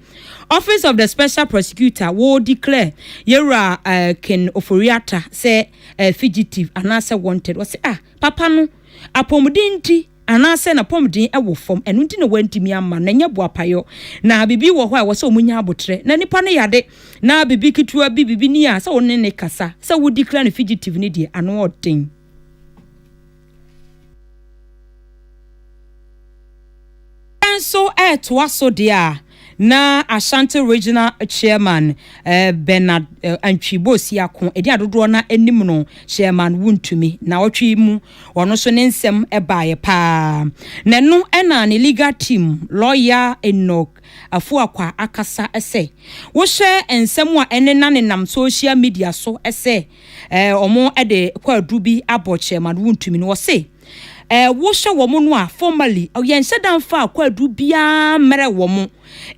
Office of the Special Prosecutor wɔ declare Yɛwura Ken Ofori-Atta sɛ fugitive anaasɛ wanted. Ɔse ah! Papa no apɔmuden nti anaasɛ n'apɔmuden wɔ fam, ɛno nti na wɔantumi amma no, na ɛnyɛ boapayɔ. Na biribi wɔ hɔ a ɛwɔ sɛ wɔnya aboterɛ. Na nipa no yade, na biribi ketewa bi, biribi ni a, sɛ wo ne no kasa, sɛ wo declare no fugitive no deɛ, ano ɔden. Sɛ nso ɛretoa so deɛ a, na Ashanti Regional Chairman Bernard Antwi Bosiako di adodoɔ na anim no Chairman Wontumi na ɔtwe mu. Ɔno nso ne nsɛm baeɛ pa ara. Na ɛno na ne legal team lɔya Enoch Afuakwa akasa sɛ wohwɛ nsɛm a ɛnena nenam social media so sɛ wɔde kwaadu bi abɔ Chairman Wontumi no, ɔse, Eh, wohyɛ wɔn no a, formally, yɛnhyɛ da mfa akwaaduru biara mmrɛ wɔn.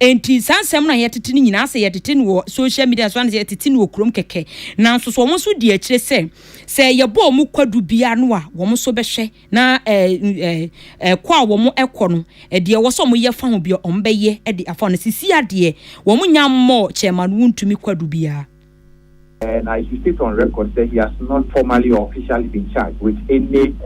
Enti saa nsɛm no a yɛtete no nyinaa, sɛ yɛtete no wɔ social media so anaasɛ yɛtete no wɔ kurom kɛkɛ. Nanso so wɔn nso di akyire sɛ, sɛ yɛbɔ wɔn kwaduru biara no a, wɔn nso bɛhwɛ na eh, eh, eh, kɔ a wɔn kɔ no, eh, deɛ ɛwɔ sɛ wɔyɛ fa ho biara, wɔbɛyɛ de afa ho. Na sisi adeɛ, wɔn nya mmɔɔ kyɛɛma no wontumi kwaduru biara. And I should state on record sɛ he has not formally or officially been charged with any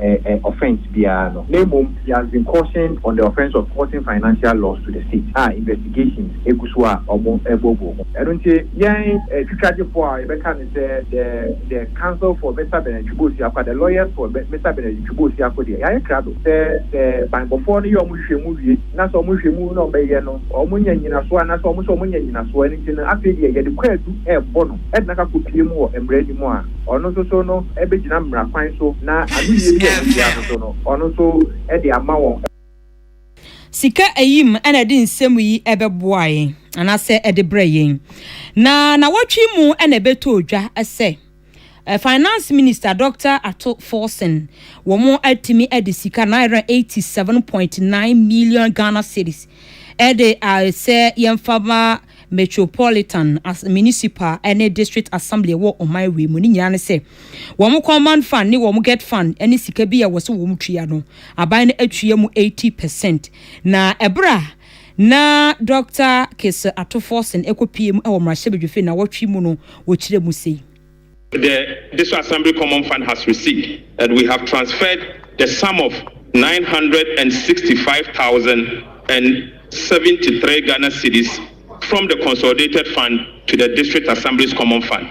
offence biara no, na mmom he has been cautioned on the offence of causing financial loss to the state a investigations gu so a wɔreboaboa mu. Ɛno nti, yɛn twitwagyefo a yɛbɛka no sɛ the the counsel for Mister Bernard Twum Osiakoa, the lawyers for Mister Bernard Twum Osiakoa deɛ, yɛayɛ krado sɛ sɛ banbɔfoɔ no yɛ wɔn nhwehwɛmu wie, na sɛ wɔhwɛ mu na wɔyɛ no wɔnya nnyinasoɔ anaa sɛ wɔn nso wɔnya nnyinasoɔ, ɛno nti no afei deɛ yɛde kwaadu rebɔ no de no akɔ pie mu wɔ mmara no mu a, ɔno nso so no bɛgyina mmara kwan so na anoyie bi a wɔbɛwia no so no ɔno nso de ama wɔn. Sika ayi mu na ɛde nsɛm yi bɛboa yɛn anaasɛ ɛde brɛ yɛn. Na nawɔtwe mu na ɛbɛtɔ dwa sɛ. Finance Minister Dɔkta Ato Forson, wɔn atumi de sika naira 87.9 million Ghana cedis de ayɛ sɛ yɛmfa ma Metropolitan, Municipal ne District Assembly wɔ ɔman wei mu. Ne nyinaa ne sɛ wɔn Command Fund ne wɔn Get Fund ne sika bi a ɛwɔ sɛ wɔn tua no, aban no atua mu 80 percent. Na ɛberɛ a Ná Dɔkta Kessel ato Forson kɔpue mu wɔ mmarahyɛbadwafie nnawɔtwe mu no wɔkyerɛ mu sei. The Diso Assembly Common Fund has received and we have transferred the sum of nine hundred and sixty five thousand and seventy three Ghana cedis from the Consolidated Fund to the District Assembly's Common Fund.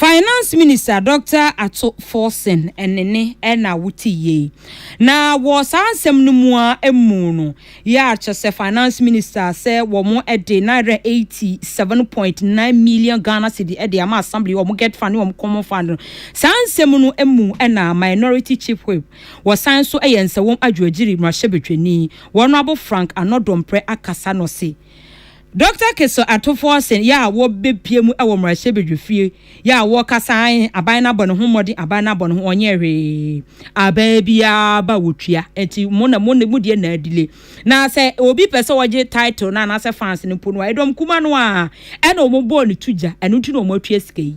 Finance Minister Dɔkta Ato Forson ne ne na wotee yei. Na wɔ saa nsɛm no mu a ɛmu no, yɛ a kyɛ sɛ Finance Minister sɛ wɔn de Naira 87.9 million Ghana cedi de ama Assembly, wɔn Get Fund ne wɔn Common Fund no. Saa nsɛm no mu na Minority Chief Whip, wɔsan so yɛ Nsawam Adwoagyiri Mmarahyɛbadwani, Honourable Frank Anor Dompreh akasa na ɔse, Dɔkta Kessel ato fo ɔsen yɛ a wɔbɛpie mu wɔ mmarahyɛbadwafie yɛ a wɔkasa ae aban no abɔ ne ho mmɔden aban no abɔ ne ho ɔnyɛɛ hwee abaa biara ba wɔtua nti mo na mo mo deɛ na adile na sɛ obi pɛ sɛ ɔgye title no anaasɛ fans no mpo no a ɛdɔm kuma no a ɛna wɔn bɔɔ ne to gya ɛno nti na wɔn atua sika yi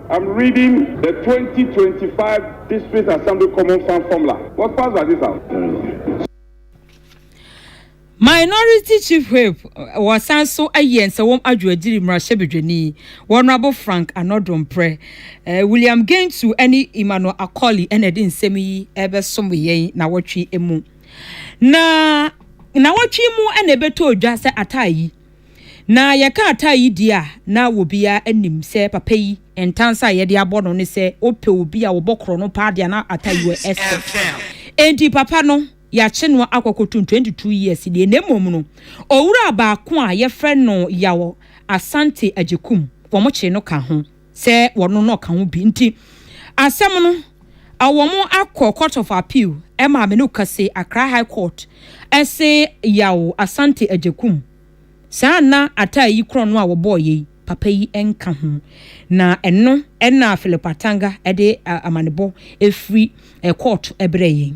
I'm reading the twenty twenty five District Assembly Common Fund Formula. What pass does this have? Minority Chief Whip wɔsan so ayi Nsawam Adwo Agyiri mmarahyɛbadwani Wɔnrabo Frank Anɔdomprɛ. Eh, William Gentu ne Emmanuel Akoli na ɛde nsɛm yi ɛbɛsom yɛn na wɔtwe mu. Na na wɔtwe mu na ɛbɛtɔ dwa sɛ ataa yi. Na yɛka ataa yi di a, na obiara nim sɛ papa yi ntansa a yɛde abɔ no ne sɛ ɔpɛ obi a ɔbɔ korɔ no paa deɛ a na ataa yi wɔ ɛsɛ. Enti papa no, yɛakye no akɔ kɔtum 22 years nie na mmom no, owura baako a yɛfrɛ no Yaw Asante Agyekum, wɔkyee no ka ho. sɛ wɔno na ɔka ho bi nti asɛm no wɔn akɔ court of appeal ɛma me no kase Accra high court ɛse yaw Asante Agyekum saa na ataa yi korɔ no a wɔbɔɔ yɛ yi papa yi nka ho na ɛno ɛna Philip Atanga ɛde amanebɔ ɛfiri court ɛbrɛ yɛn.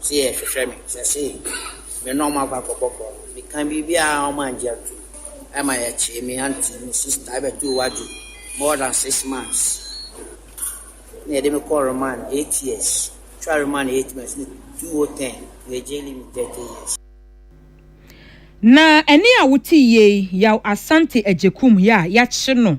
se yɛ hwehwɛ me sɛ se me ne ɔmo akɔ akɔbɔ bɔɔl no me ka biribiaa ɔmo angye antom ɛma yɛ kyee me aunty me sister ɛbɛ too wadwo more than six months na yɛde me kɔɔ remand eight years twa remand eight months ne 2010 yɛ jail me thirty years. Na ɛne a wote yie yi Yaw Asante Agyekum yɛ a yɛakye no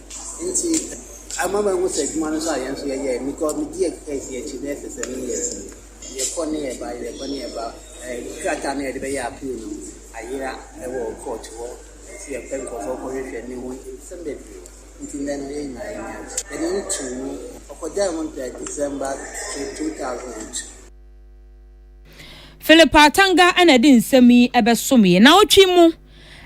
Nti ama mahu sɛ adwuma no nso a yɛn nso yɛyɛ no because me di ɛsi akyi bɛyɛ sɛ seven years ni. Yɛkɔ ne yɛba, yɛkɔ ne yɛba. Krataa no a yɛde bɛyɛ appeal no ayera wɔ court hɔ. Nso yɛpɛ nkurɔfoɔ kɔ hwehwɛ ne ho nsɛm bebree. Nti nnɛ no yɛn nyinaa yɛn yam. Yɛde no too mu. Ɔkɔgyae ho ntɛɛ December two thousand and two. Philip Atanga na ɛde nsɛm yi bɛsomee. Naawɔtwe mu.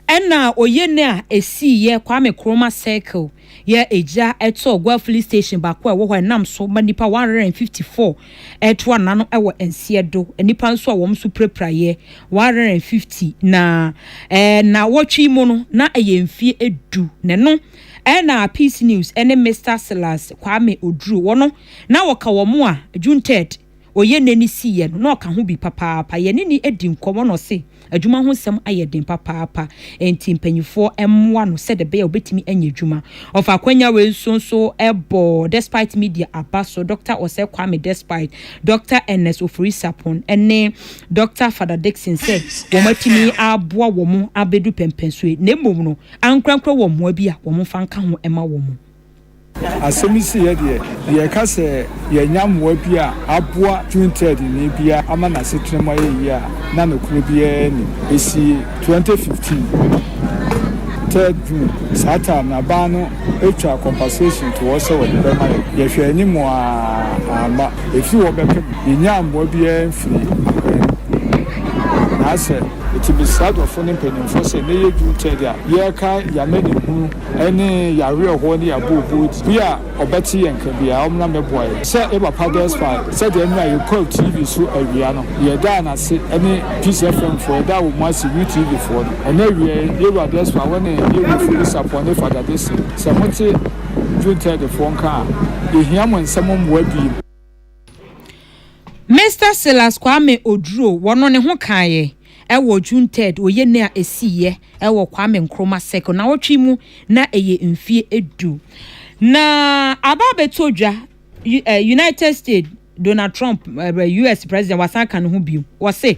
Ɛna a ɔyɛ ne a ɛsii yɛ Kwame Kroma Circle yɛ ɛgya ɛtɔ Gua Filling Station baako a ɛwɔ hɔ a ɛnam so ma nnipa 154 ɛto anna no ɛwɔ nseɛ do. Nnipa nso a wɔn nso pirapira yɛ 150 na ɛna wɔtwe mu no na ɛyɛ mfie ɛdu na ɛno ɛna Peace News ɛne Mister Silas Kwame Oduro wɔn no na wɔka wɔn a June 3rd. ɔyɛ n'ani siiɛ no, na ɔka ho bi papaapa. Yɛne no adi nkɔmmɔ na ɔse adwuma ho nsɛm ayɛ den papaapa, enti mpanimfoɔ mmoa no sɛdeɛ ɛbɛyɛ a ɔbɛtumi anya adwuma. Ɔfa akwanya wei nso nso bɔ Despite Media aba so, Dɔkta Osei Kwame Despite, Dɔkta Ernest Ofori Sarpong ne Dɔkta Father Dickson sɛ wɔn atumi aboa wɔn abɛdu pɛmpɛnsoɔ yi, na mmom no ankorankora wɔn mmoa bi a wɔmfa nka ho mma wɔn. Asɛm yi siiɛ deɛ, yɛka sɛ yɛanya mmoa bi a aboa Trinitariani biara ama n'asetena mu ayɛ yie a na nokorɛ biara nni. Ɛsii 2015 3rd June, saa time no abaa no twaa compensation to hɔ sɛ wɔde bɛma yɛn. Yɛhwɛɛ anim aa amma. Ɛfiri hɔ bɛpem yɛnyaa mmoa biara mfirii aban no mu. Naasɛ. Nti mesrɛ adɔfoɔ ne mpanimfoɔ sɛ nnɛ yɛ June 3rd a yɛrekae yɛn amanehunu. ne yɛn awerɛhoɔ ne yɛn abooboo ti. Bi a ɔbɛte yɛn nka biara, ɔmmra mmɛboa yɛn. Sɛ yɛ Papa Desfar, sɛdeɛ nna yɛ kɔɔ TV so awia no, yɛ daa no ase, ne Peace FM foɔ, yɛ daa wɔn ase, U TV foɔ no. Ɛnnɛ awiaɛ, yɛ Wura Desfar, wɔ ne yɛ Wura Ofori Sapon ne Fada Dese, sɛ mo te June third foɔ nka a, yɛ hia mo nsɛm mmoa biem. Mister Silas Kwame Oduro wɔ no ne ho kaeɛ ɛwɔ June 3rd wɔ yɛnɛ a ɛsiiɛ ɛwɔ Kwame Nkrumah Circle nawɔtwe mu na ɛyɛ mfie ɛdu na aba abɛtɔ dwa United States Donald Trump US President wasan aka ne ho bio wɔ se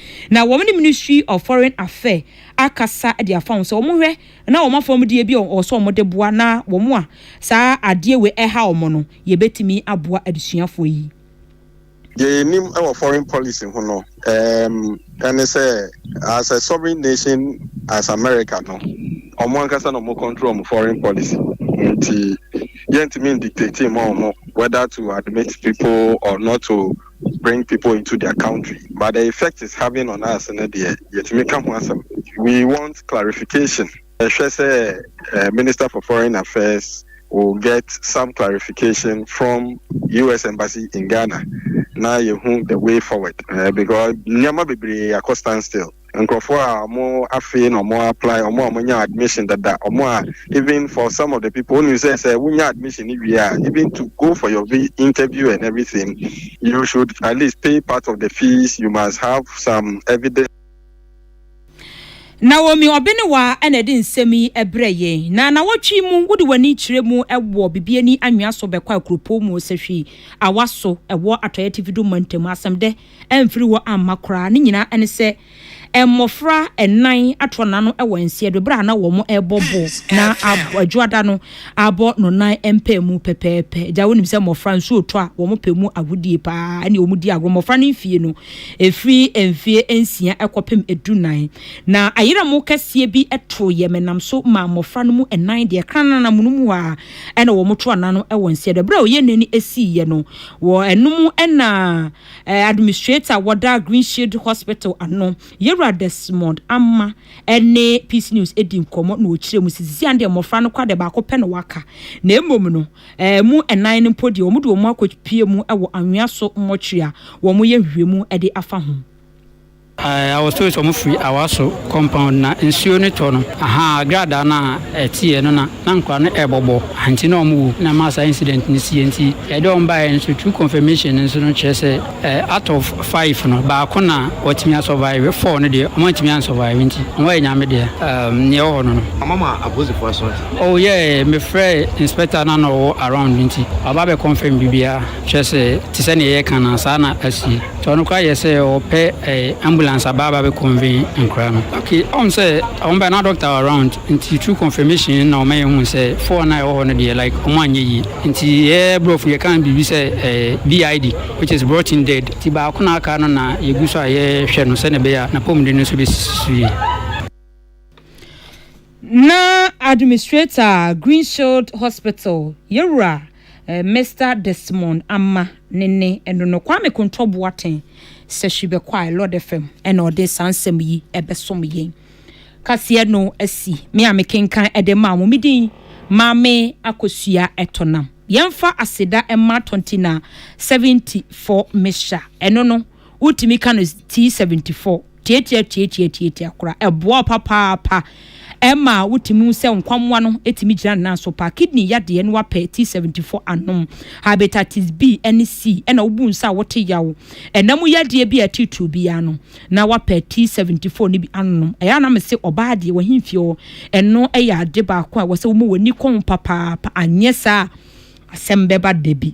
Na wɔn ne Ministry of Foreign Affair akasa de afa ho sɛ wɔn hwɛ na wɔn afɔmdeɛ bi a wɔwɔ sɛ wɔn de boa na wɔn a saa adeɛ wei ɛha wɔn no yɛbɛtumi aboa adesuafoɔ yi. Deɛ yɛnim wɔ foreign policy ho no um, ɛne sɛ as a sovereign nation as America no, wɔn ankasa na wɔn control wɔn foreign policy. Nti yɛntumi ndictate ma wɔn whether to admit people or not to bring people into their country but the effect is having on us no deɛ yɛtumi ka ho asɛm we want clarification ɛhwɛ sɛ uh, minister for foreign affairs will get some clarification from us embassy in ghana na yɛhu the way forward uh, because nneɛma bebree akɔ stand still nkurɔfoɔ a wɔn afei na wɔn apply wɔn a wɔn nya admission dada wɔn a even for some of the people wɔn sɛ sɛ wɔn nya admission ni wie a even to go for your interview and everything you should at least pay part of the fees you must have some evidence. Naomi Ɔbenewa na ɛde nsɛm yi brɛ yɛn. Na nawɔtwe mu wode w'ani kyerɛ mu wɔ Bibiani anwea so bɛkɔ Akuropɔn mu Osahwi Awa so ɛwɔ Atɔeɛ Atifi Dum Mantam asɛmdɛ amfiri hɔ amma koraa. Ne nyinaa ne sɛ mmofra nnan atrɔ n'ano wɔ nseɛ do bere a na wɔrebɔ bo na Adwoada no abɔ no nan mpaa mu pɛpɛɛpɛ. Agya, wonim sɛ mmofra nso retɔ a, wɔpɛ mu agodie pa ara ne wɔdi agorɔ. Mmofra no mfie no, ɛfiri mfeɛ nsia kɔpem dunan. Na ayerɛmo kɛseɛ bi tooɛ. Menam so maa mmofra no mu nnan deɛ krananam no mu hɔ ara. Ɛna wɔto ana no wɔ nseɛ do. Berɛ a ɔyɛ n'ani siiɛ no, wɔ ɛno mu na administrator wɔda Green Shield Hospital ano, Yewura Desmond Amma ne Peace News di nkɔmmɔ na ɔkyerɛ mu sɛ sisi ano deɛ mmɔfra no kora deɛ baako pɛ na waka na mmom no ɛmu nnan no mpo deɛ wɔde wɔn akɔpie mu wɔ Anwea so mortuary a wɔyɛ nhwehwɛmu de afa ho. I was told sɛ ɔmo firi Awaso compound na nsuo no tɔ no ahaa gradaa no a ɛteɛ no na na nkwadaa no ɛɛbɔbɔ nti na ɔmo wu na ɛmaa saa incident no siiɛ nti ɛde ɔmo baeɛ nso through confirmation no nso no kyerɛ sɛ out of five no baako na watumi a survive four no deɛ ɔmo antumi an survive nti ɔmo ayɛ Nyame deɛ um neɛ ɛwɔ hɔ no no. Ɔmo ama apolisifoɔ asɔɔte? Oh yeah me frɛɛ inspector no a na ɔwɔ around nti waba abɛ confirm biribiara kyerɛ sɛ te sɛ neɛ yɛɛka no a saa na asie. Ɔno koraa yɛ sɛ ɔpɛ eh, ambulance aba aba bɛ convey nkora no. Okay, ɔm sɛ ɔm bɛ na doctor wɔ around nti through confirmation na ɔma yɛhuu sɛ four no a ɛwɔ hɔ no deɛ like ɔmo anyɛ yie nti yɛ brɔfo yɛka biribi sɛ eh, BID which is brought in dead nti baako na aka no na yɛgu so a yɛhwɛ no sɛdeɛ ɛbɛyɛ a n'apɔmuden no nso bɛsi so yie. Na Administrator a Greenshield Hospital yɛwura Mister Desmond Ama ne ne ɛno no Kwame Kontɔ Boateng Sahwi bɛkɔae Lord FM ɛna ɔde saa nsɛm yi ɛbɛsom yɛn kaseɛ no asi me a mekenkan ɛde maa mo medin Maame Akosua Ɛtonam yɛmfa aseda ɛma Tontina 74 Misha ɛno no wotumi ka no tii seventy four tiatia tiatia tiatia kora ɛboa wo papaapa ɛma wotumi hu sɛ nkwammoa no tumi gyina ne nan so paa kidney yadeɛ no wapɛ tii seventy four anom hepatitis B ne C ɛna wobu nsa a wote yaw ɛna mu yadeɛ bi a ɛtitiriw biara no na wapɛ tii seventy four no bi anom ɛyɛ a na me se ɔbaa deɛ wahemfie hɔ ɛno ɛyɛ ade baako a ɛwɔ sɛ woma w'ani kɔn papaapa anyɛ saa a asɛm bɛba da bi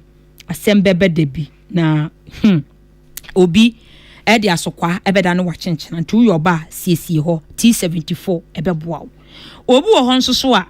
asɛm bɛba da bi. Na, hmm, obi de asokwaa bɛda no wakyenkyena, nti woyɛ ɔba a, siesie hɔ, T74 ɛbɛboa wo. Obi wɔ hɔ nso so a,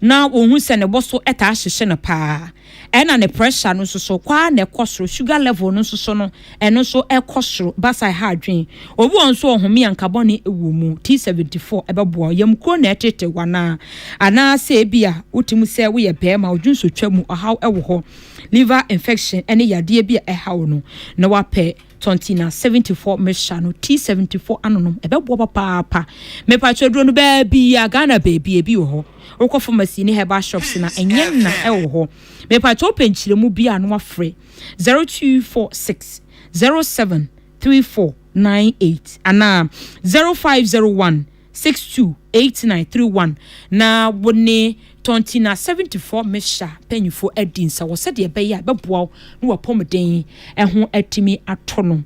na wɔhu sɛ ne bo so taa hyehye no paa, ɛna ne pressure no nso so, kɔ ara na ɛkɔ soro, sugar level no nso so no, ɛno nso ɛkɔ soro, basa ɛha adwene. Obi wɔ hɔ nso ɔhome a nka bɔne wɔ mu, T74 ɛbɛboa wo. Yamkuro na ɛtete wo anaa? Anaasɛ ebia wote mu sɛ woyɛ barima, odwonsotwa mu ɔhaw wɔ hɔ. liver infection ne yadeɛ bi a ɛha wo no, na wapɛ Tontina 74 mixture no, T74 anonom, ɛbɛboa papaapa. Mepakyɛ aduro no baabia, Ghana baabi ebi wɔ hɔ. Wokɔ pharmacy ne herbal shops na ɛnyɛ nna ɛwɔ hɔ. Mepakyɛ wopɛ nkyerɛmu bi a no wafrɛ 0246 07 3498 anaa 0501 Six two eight nine three one na wo ne Tɔntina seventy four Mehya mpanyinfoɔ adi nsawɔ sɛdeɛ ɛbɛyɛ a ɛbɛboa wo ne w'apɔmuden ho atumi atɔ no.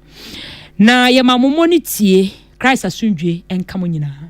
Na yɛma mo mmɔ ne tie. Christ asomdwie nka mo nyinaa.